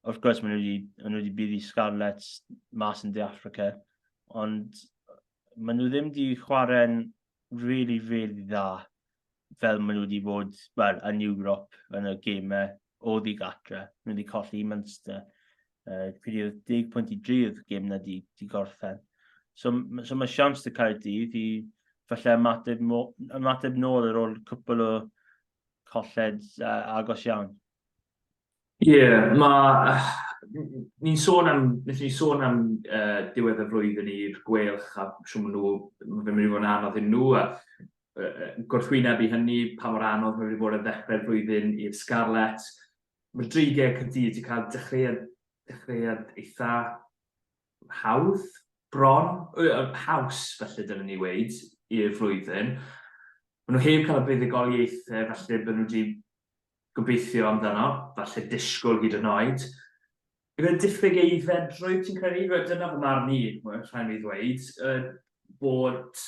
B: wrth gwrs maen nhw wedi, maen nhw wedi buddi Scarlets mas yn De Africa, ond maen nhw ddim wedi chwarae'n really, really dda fel maen nhw wedi bod, wel, yn Ewrop, yn y gemau o ddigadre. Nhw wedi colli i Munster. Uh, Pryd deg pwynt i drydd gym na di, di gorffen. So, so mae siams dy cael dydd i falle ymateb, ymateb nôl ar ôl cwpl o colled uh, agos iawn. Ie,
C: yeah, mae... Ni'n sôn am, nes ni sôn am uh, diwedd y flwyddyn i'r gwelch a siw nhw, mae'n mynd i fod yn anodd i nhw, a gwrthwyneb i hynny, pa mor anodd mae wedi bod ar ddechrau'r flwyddyn i'r Scarlets. Mae'r dreigiau Caerdydd wedi cael dechreuad, dechreuad eitha hawdd, bron, haws felly dylwn ni weid, i'r flwyddyn. Mae nhw heb cael y buddugoliaethau felly bod nhw wedi gobeithio amdano, falle disgwyl hyd yn oed. Gyda diffyg aeddfed, rwyt ti'n credu, rwyt dyna fy marn i, rhaid mi ddweud, bod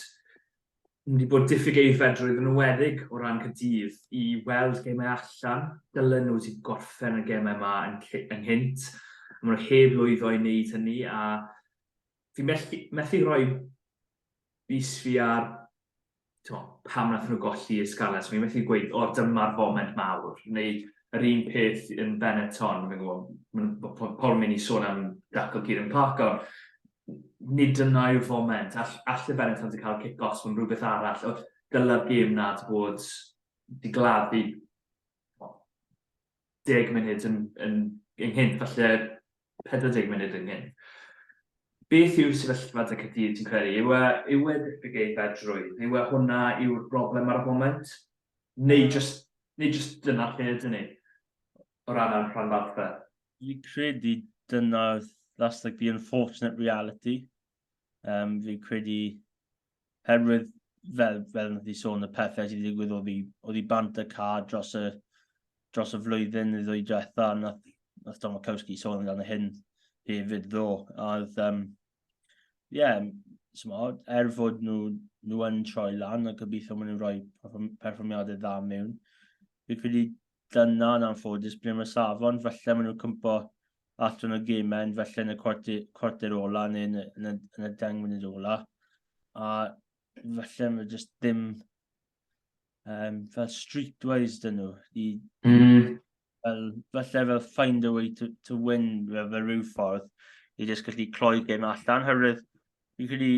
C: wedi bod diffyg eiddfedrwydd yn ymwedig o ran Cydydd i weld gemau allan. Dylen nhw wedi gorffen y gemau yma yn ynghynt. Maen nhw heb lwyddo i wneud hynny a fi methu, methu rhoi bus fi ar t'mo', pam wnaethon nhw golli y Scarlets, fi'n methu gweud, o, dyma'r foment mawr, neu yr un peth yn Benetton, fi'n gwybod, mae pobl yn mynd i sôn am dacl Kieran Clark, ond nid dyna yw'r foment. All, all y Benetton wedi cael cic-offs, mae'n rhywbeth arall. Dyla'r gêm nad bod di gladdu deg munud yn, yn, ynghyn, falle 40 munud ynghyn. Beth yw'r sefyllfa dy Caerdydd ti'n credu? Yw e, yw e diffyg ei fedrwydd? Yw e hwnna yw'r broblem ar y foment? Neu mm. just, neu just dyna lle ydyn ni? O ran ar rhan farfa? Fi credu
B: dyna, that's like the unfortunate reality. Um, fi credu Herwydd, fel, fel wnaeth i sôn, y pethau sydd wedi digwydd oedd i, oedd i bant y ca dros y, dros y flwyddyn neu ddwy diwetha, nath, nath Tom Okowski sôn amdano hyn hefyd ddo. A oedd, um, yeah, smod, er fod nhw, nhw yn troi lan a gobeithio maen nhw'n rhoi perfformiadau dda mewn, fi'n credu Dyna yn anffodus ble mae safon, falle maen nhw'n cympo allan o gemen, falle yn y cwarter, cwarter ola neu yn y, yn y, yn y deng munud ola. A falle mae jyst ddim um, fel streetwise dyn nhw. I, mm. fel, falle fel find a way to, to win fel, fel rhyw ffordd i jyst gallu cloi gem allan. Hyrwydd, fi'n credu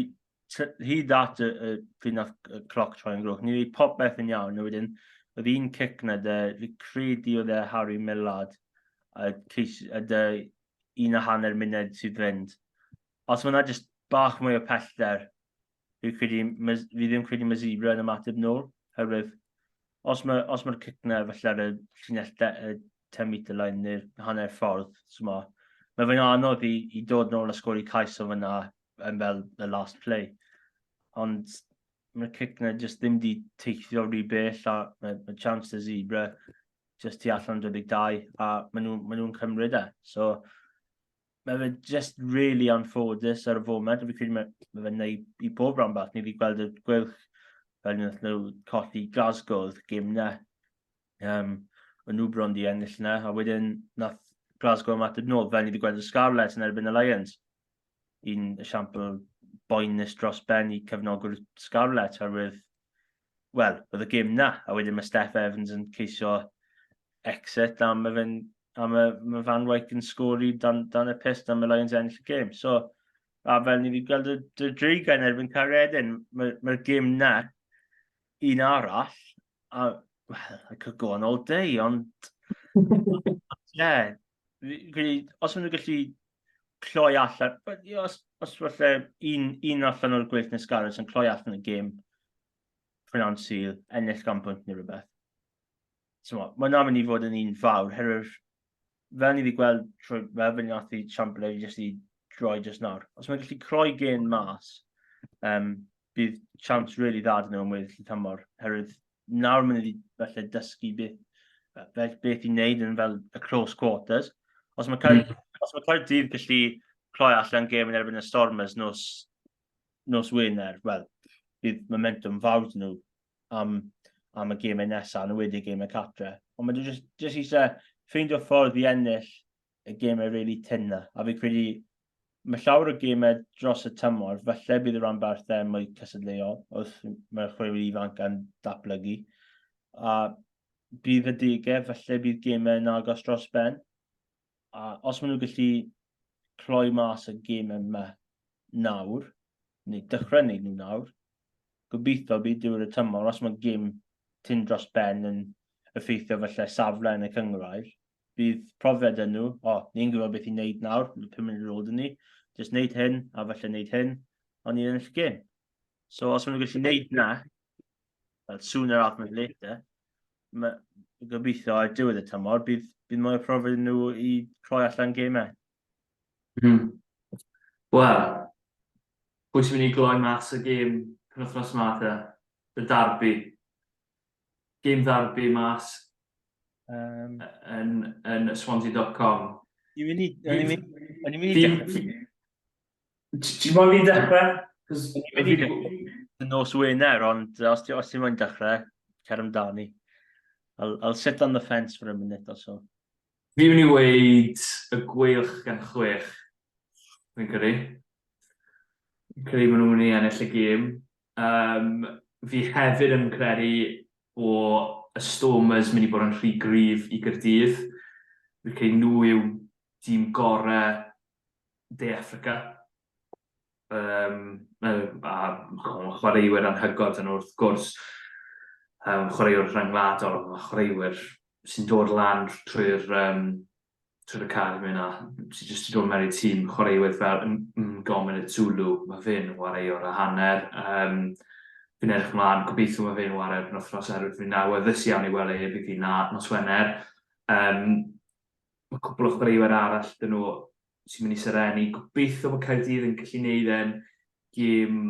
B: hyd at y, y pryd nath y cloc troi yn grwch, ni wedi popeth yn iawn, a wedyn oedd un cic na dy, fi credu oedd e Harry Millard, a, ceis, a dy un a hanner munud sydd fynd. Os mae yna jyst bach mwy o pellter, fi, credu, fi ddim credu mae Zebra yn ymateb nôl, herwydd os mae'r os mae cic na falle ar y llinell 10 metre line neu'r hanner ffordd, so mae, mae fe'n anodd i, i dod nôl a sgori cais o fyna yn fel y last play. Ond mae'r cic na jyst ddim di teithio rhy bell a mae, mae chance y zebra jyst tu allan 22 a maen nhw'n ma nhw cymryd e. So mae fe jyst really anffodus ar y foment a fi credu mae, mae fe'n neud i bob rhan bach. Ni wedi gweld y gwylch fel nhw colli Glasgow oedd gym na. um, y nhw bron di ennill yna, a wedyn nath Glasgow ymateb nôl, fel ni wedi gweld y Scarlets yn erbyn y Lions. Un esiampl boenus dros ben i cefnogwr Scarlets, arwydd, wel, oedd y gym na, a wedyn mae Steph Evans yn ceisio exit am y, fe'n, am y mae Van Wyk yn sgori dan, dan y pist am y Lions ennill y gym. So, a fel ni wedi gweld y, y dreigain erbyn Caredin, mae'r mae, gym na, Un arall, a, well, I could go on all day, ond... yeah, really, os maen nhw'n gallu cloi allan, os, os falle un, un allan o'r gweith nes garys yn cloi allan y gêm, prynawn sydd, ennill gan bwynt neu rhywbeth. So, mae yna mynd i fod yn un fawr, herwydd fel ni wedi gweld trwy fel fe ni nath i siampl i jyst i droi jyst nawr. Os mae'n gallu croi gen mas, um, bydd siawns rili really dda dyn nhw am weddill y tymor. Herwydd nawr mae'n wedi felly dysgu beth, beth, beth i wneud yn fel y close quarters. Os mae cael, mm. os mae cael dydd gallu croi allan gêm yn erbyn y Stormers nos, nos Wener, wel, bydd momentum fawr dyn nhw am, am y gymau nesaf, yn wedi gymau catre. Ond mae jyst, jyst eisiau ffeindio ffordd i ennill y gymau really tynna. A fi credu mae llawer o gymau dros y tymor, falle bydd y rhan barthau mwy cysadleuol wrth mae'r chwaraewyr ifanc yn datblygu. A bydd y degau, falle bydd gymau yn agos dros ben. a os maen nhw'n gallu cloi mas y gym yma nawr, neu dechrau wneud nhw nawr, gobeithio bydd diwedd y tymor, os mae gym tyn dros ben yn effeithio felly safle yn y cyngrair, bydd profiad yn nhw, o, oh, ni'n gwybod beth i'n neud nawr, yn y pum munud roed yn ni, jyst neud hyn, a felly neud hyn, ond ni'n ennill gym. So, os maen nhw'n gallu neud na, sooner rather than later, mae gobeithio ar diwedd y tymor, bydd, bydd mwy o profiad nhw i rhoi allan gemau. Mm.
C: Wel, pwy sy'n mynd i gloi mas y gêm penwthnos yma te? Y darbi. Gêm ddarbi mas um, yn, yn swansea.com. Fi'n
B: mynd i... Fi'n mynd i...
C: Ti'n modd i ddechrau? Cos wedi
B: y nos Wener, ond os ti'n os ti moyn dechrau, cer amdani. I'll, I'll sit on the fence for a minute or so. Fi'n mynd i
C: weid y gweilch gan chwech. Fi'n credu. Fi'n credu maen nhw'n mynd i ennill y gêm. Um, fi hefyd yn credu o y Stormers mynd i bod yn rhy gryf i Gyrdydd. Fi'n credu nhw yw dîm gorau De Affrica. Um, a chwaraewyr anhygod yn wrth gwrs um, chwaraewyr rhyngwladol, a chwaraewyr sy'n dod lan trwy'r um, trwy'r academi yna, sy'n jyst i dod mewn i'r tîm, chwaraewyr fel Ngomen y Zulu, mae fe'n wareuwr a hanner. Um, fi'n edrych ymlaen, gobeithio mae fe'n wario yn wythnos erwydd fi'n nawr, ddys iawn i weld ei ebyd i na nos Wener. Um, Mae cwpl o chwaraewyr arall dyn nhw sy'n mynd i serennu. Gobeithio bod Caerdydd yn gallu neud e'n gêm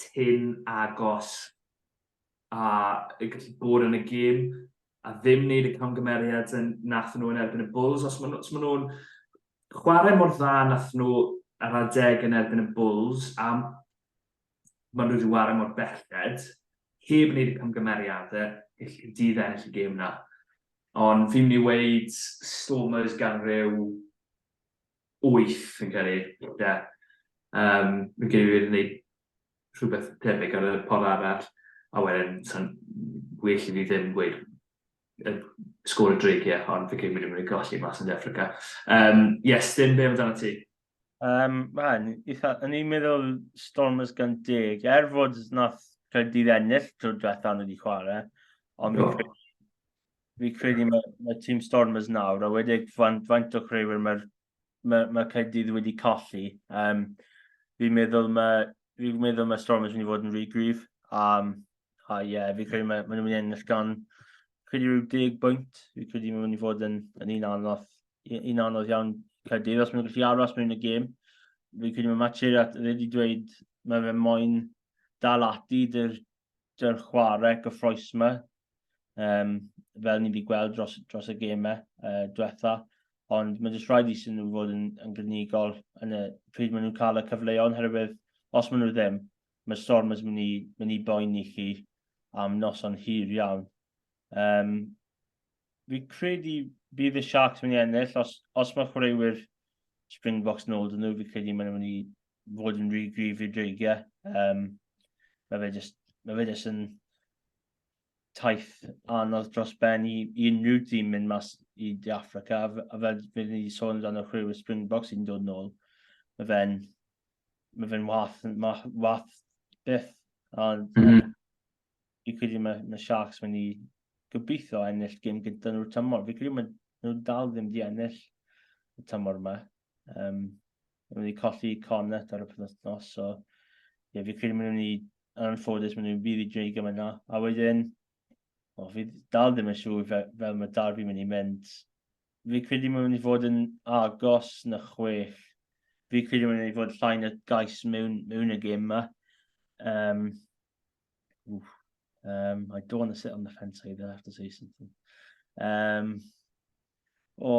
C: tyn agos a yn gallu bod yn y gêm a ddim wneud y camgymeriad yn nath nhw yn erbyn y Bulls. Os maen nhw'n nhw chwarae mor dda nath nhw ar adeg yn erbyn y Bulls a maen nhw wedi ware mor belled, heb wneud y camgymeriadau i dydd ennill y gêm na. Ond fi'n mynd i weid Stormers gan rhyw 8 fi'n credu. Ie. Um, fi'n credu wedi gwneud rhywbeth tebyg ar y pod arall, a wedyn sa'n well i fi ddim gweud y sgôr y dreigiau, ond fi'n credu wedi mynd i golli mas yn De Affrica. Um, yes, dim be amdano ti. Um, man, eitha,
B: yn i'n meddwl Stormers gan deg, er fod nath Caerdydd ennill drwy diwethaf nhw wedi chwarae, ond no. fi credu mae, mae tîm Stormers nawr, a wedi faint, faint o chreiwyr mae'r mae, mae Caerdydd wedi colli. Um, fi'n meddwl mae, fi meddwl mae Stormers wedi fod yn rhy gryf, um, A ie, yeah, fi'n credu maen ma nhw'n mynd i ennill gan credu rhyw deg bwynt. Fi'n credu maen nhw'n mynd i fod yn, yn un anodd, un anodd iawn Caerdydd os maen nhw'n gallu aros mewn y gêm. Fi'n credu mae Matcher at wedi dweud mae fe moyn dal ati dy'r, dyr chwarae gyffroes yma. Um, fel ni wedi gweld dros, dros y gemau uh, diwetha. Ond mae jyst rhaid i sy'n nhw fod yn, yn gynigol yn y pryd maen nhw'n cael y cyfleon, herwydd os maen nhw ddim, Mae storm yn mynd i, mynd i boeni chi am noson hir iawn. Um, fi credu bydd y Sharks yn mynd i ennill, os, os mae chwaraewyr Springboks nôl dyn nhw, fi credu mae'n mynd i fod yn rhy grif i'r dreigiau. Um, mae fe jyst, mae fe jyst yn taith anodd dros ben i, i unrhyw dîm mynd mas i De Africa, a, a fel fi wedi sôn amdano chwe y Springboks sy'n dod yn ôl, mae fe'n mae fe'n wath, ma, wath byth. A mm -hmm. fi credu mae, mae Sharks mynd i gobeithio ennill gym gyda nhw'r tymor. Fi credu mae nhw dal ddim di ennill y tymor yma. Um, mae wedi colli Connett ar y penwthnos, so ie, fi credu mae nhw'n mynd i yn anffodus maen nhw'n bydd i dweud gymaint na. A wedyn, o, fi dal ddim yn siŵr fe, fel mae Darby mynd i mynd. Fi credu mae'n mynd i fod yn agos na chwech. Fi credu mae'n mynd i fod llai na gais mewn, mewn y gym yma. Um, oof, um, I don't want to sit on the fence either, I have to say something. Um, O,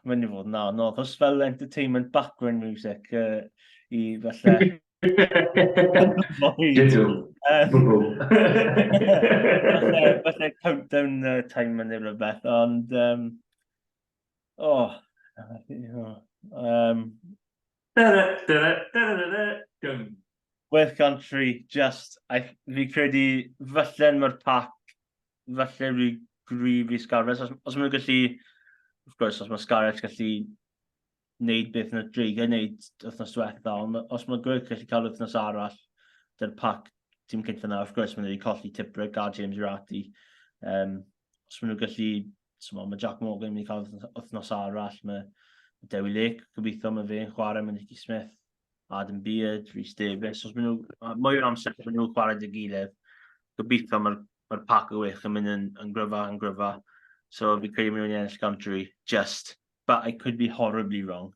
B: mae'n i fod yn anodd. Os fel entertainment background music uh, i falle... Dydw. Bwbw. Falle countdown uh, time yn ei rhywbeth, ond... Um, o, oh, um, West Country, just, I, fi credu, falle'n mae'r pac falle rhy gryf i Scarlett. Os, os maen nhw'n gallu, wrth gwrs, os mae Scarlett gallu wneud beth yna dreigiau wneud wythnos diwetha, ond os mae Gwyrdd gallu cael wythnos arall, dy'r pac tîm cyntaf yna, wrth gwrs, maen nhw wedi colli Tibric a James Rati. Um, os maen nhw'n gallu, so mae Jack Morgan yn mynd i cael wythnos arall, mae Dewi Lake, gobeithio mae fe'n chwarae, mae Nicky Smith, Adam Beard, Rhys Davies, os maen nhw, mwy o'r amser maen nhw'n chwarae dy gilydd, gobeithio mae'r ma pac o wych yn mynd yn, yn gryfa, yn gryfa. So fi credu maen nhw'n ennill Gantry, just, but I could be horribly wrong.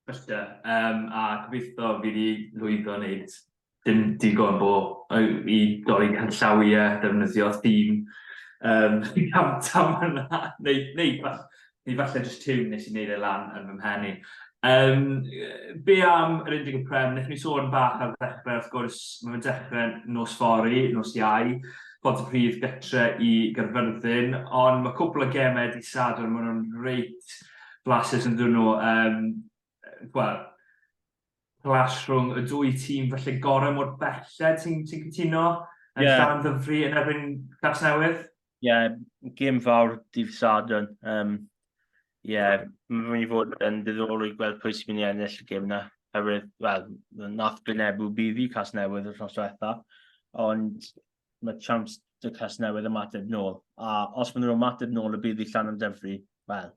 C: Bysia, um, a gobeithio fi wedi lwyddo wneud dim digon bo i dorri canllawiau, defnyddio theme um, camtam yna, neu, neu, falle, neu falle just tiwn nes i wneud e lan yn fy mhen i. Um, be am yr 11 prem, wnaethon ni sôn bach ar ddechrau, wrth gwrs, mae'n dechrau nos fori, nos iau, bod y prif gytre i Gyrfyrddin, ond mae cwpl o gemau di sadwr, maen nhw'n reit blasus yn dyn nhw. Um, wel, clash rhwng y dwy tîm felly gorau mor belled ti'n ti cytuno yn yeah. dan ddyfru yn erbyn Cas Newydd? Ie, yeah,
B: gym fawr dydd Sadwn. Um, Ie, yeah, mae'n mynd i fod yn ddiddorol i gweld pwy sy'n mynd i ennill y gym na. Herwydd, wel, nath Gwynebu buddi cas newydd yr hos diwetha, ond mae chance dy cas newydd ymateb nôl. A os maen nhw'n ymateb nôl y buddi llan yn dyfru, wel,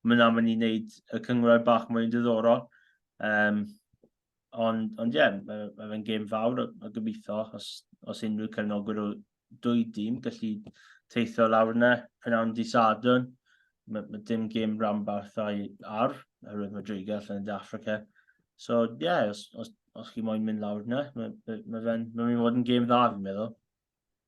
B: mae yna mynd i wneud y cyngor bach mwy yn diddorol. Um, ond, ond ie, yeah, mae, mae fe'n gêm fawr a, a gobeithio os, os unrhyw cefnogwyr o dwy dîm gallu teithio lawr yna, prynawn di sadwn. Mae, mae dim gêm rambarth a'i ar, oherwydd mae Driga allan yn De Africa. So, ie, yeah, os, os, os chi moyn mynd lawr yna, mae, mae, mae fe'n mae fod yn gêm dda, fi'n meddwl.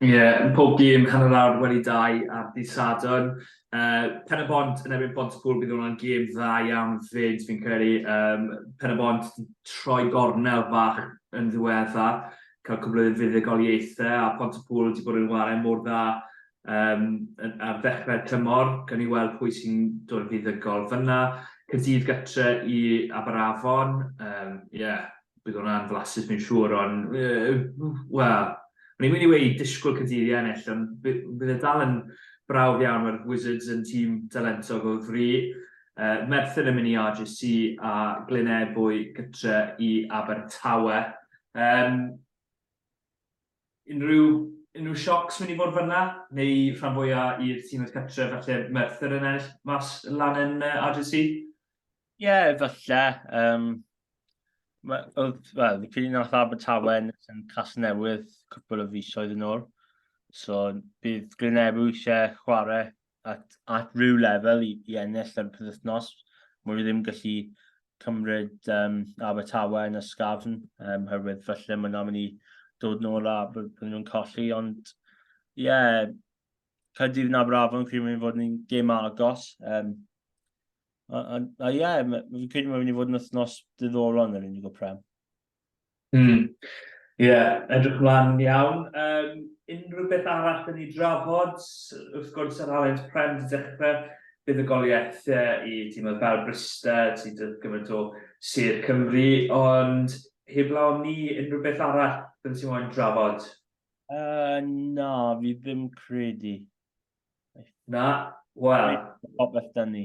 B: Ie, yn
C: pob gêm, hanner awr wedi dau ar dydd Sadwrn. Uh, Pen y Bont yn ebyn Pont y Pŵl, bydd hwnna'n gêm dda iawn fyd, fi'n credu. Um, Pen y Bont wedi troi gornel fach yn ddiwedda, cael cwbl o fuddugoliaethau, a Pont y Pŵl wedi bod yn warau mor dda um, ar ddechrau'r tymor. Gan i weld pwy sy'n dod yn fuddugol fyna. Cydydd gytre i Aberafon, ie, um, yeah, bydd hwnna'n flasus fi'n siŵr, ond, wel, o'n i'n mynd i weud disgwyl Cadydd i ennill, ond bydd e dal yn brawf iawn, mae'r Wizards yn tîm talentog o fri. Uh, Merthyr yn mynd i RGC a Glynebwy gytre i Abertawe. Um, unrhyw, unrhyw siocs mynd i fod fyna, neu rhan fwyaf i'r tîm oedd gytre, falle Merthyr yn ennill mas lan yn uh, RGC? Ie, efallai.
B: Um, oedd, wel, fi credu nath Abertawe ennill yn Casnewydd cwpl o fisoedd yn ôl. So, bydd Glenebw eisiau chwarae at, at rhyw lefel i, i ennill ar y penwythnos. Mwyn i ddim gallu cymryd um, Abertawe yn y sgafn, um, herwydd felly mae'n am i ni dod nôl a bod nhw'n colli, ond ie, yeah, Caerdydd yn Aberafon, credu mae'n fod yn gêm agos. Um, A, a, a ie, yeah, fi'n credu mae'n mynd i fod yn wythnos diddorol yn yr unig o prem. Mm. Ie,
C: yeah, edrych mlaen iawn. Um, unrhyw beth arall yn ei drafod, wrth gwrs yr Alliance Prem wedi dechrau, bydd y goliaethau i tîmoedd fel Brysta, ti dod gymaint o Sir Cymru, ond heblaw ni unrhyw beth arall bydd ti'n moyn drafod? Uh,
B: na, fi ddim credu.
C: Na, wel... Popeth dyn ni.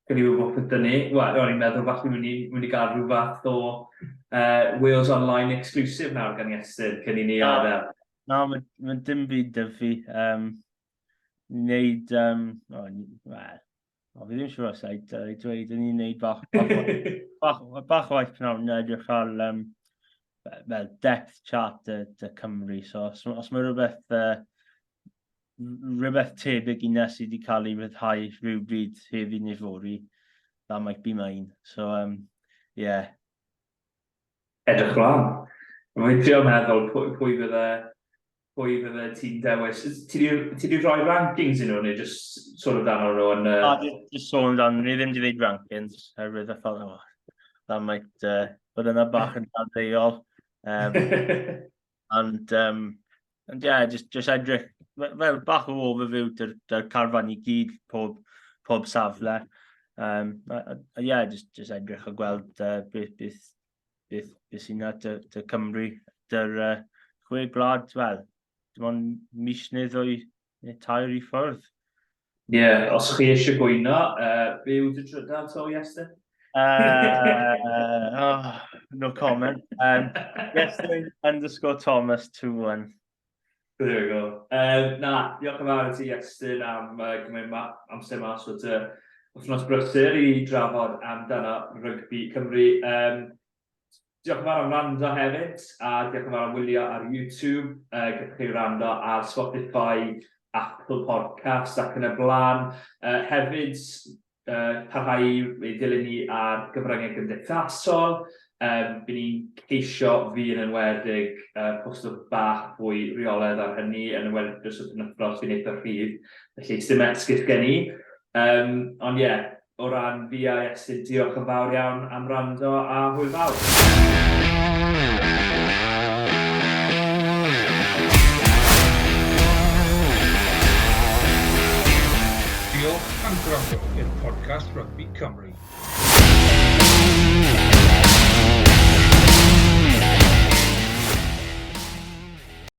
B: Gwn i
C: wybod popeth dyn ni. Wel, o'n i'n meddwl falle mynd i, mynd i gael rhyw fath o uh, Wales Online exclusive nawr gan Iestyn, cyn i ni adael. Na, mae ma
B: dim byd dyfu. Um, wneud, um, oh, well, O, fi ddim siŵr os I dweud yn ni'n neud bach, bach, bach o waith pnawn na edrych ar um, well, depth chart y, y Cymru. So, os, os mae rhywbeth, uh, rhywbeth tebyg i na sydd wedi cael ei ryddhau rhywbryd heddi neu fori, that might be mine. So, um, yeah.
C: Edrych lan. Mae'n trio meddwl pwy, pwy bydde pwy fydde ti'n dewis? Ti wedi rhoi rankings yn nhw, neu just sôn amdano nhw yn... Uh... A, just sôn amdano, ni
B: ddim wedi gwneud rankings, herwydd y ffordd yma. That might uh, bod yna bach yn dadleuol. Um, ond, um, ond ie, yeah, just, just edrych, fel bach o overview dy'r dy carfan i gyd pob, pob safle. Um, a, a, a yeah, just, just edrych a gweld uh, beth, beth, beth, beth sy'n na, dy, dy Cymru, dy'r uh, chwe gwlad, wel, dim ond mis neu ddwy neu tair i ffwrdd. Ie, yeah,
C: os chi eisiau gwyno, uh, be yw dy drydar to, Iestyn? Uh, uh,
B: oh, no comment. Um, Iestyn underscore Thomas 21.
C: There we go. Um, na, diolch yn fawr i ti, Estyn, am uh, gymryd ma amser mas o dy wythnos brysur i drafod amdano rygbi Cymru. Um, Diolch yn fawr am rando hefyd, a diolch yn fawr am wylio ar YouTube. Uh, Gallwch chi rando ar Spotify, Apple Podcast ac yn y blaen. Uh, hefyd, parhau i ddilyn ni ar gyfryngau gymdeithasol, by ni'n ceisio fydd yn enwedig postio bach fwy rheoledd ar hynny, yn enwedig dros y penwythnos sy'n eitha rhydd, felly sdim esgus gen i. Ond ie, o ran fi a Iestyn, diolch yn fawr iawn am am wrando a hwyl fawr!
D: Diolch am gwrando i'r podcast Rugby Cymru.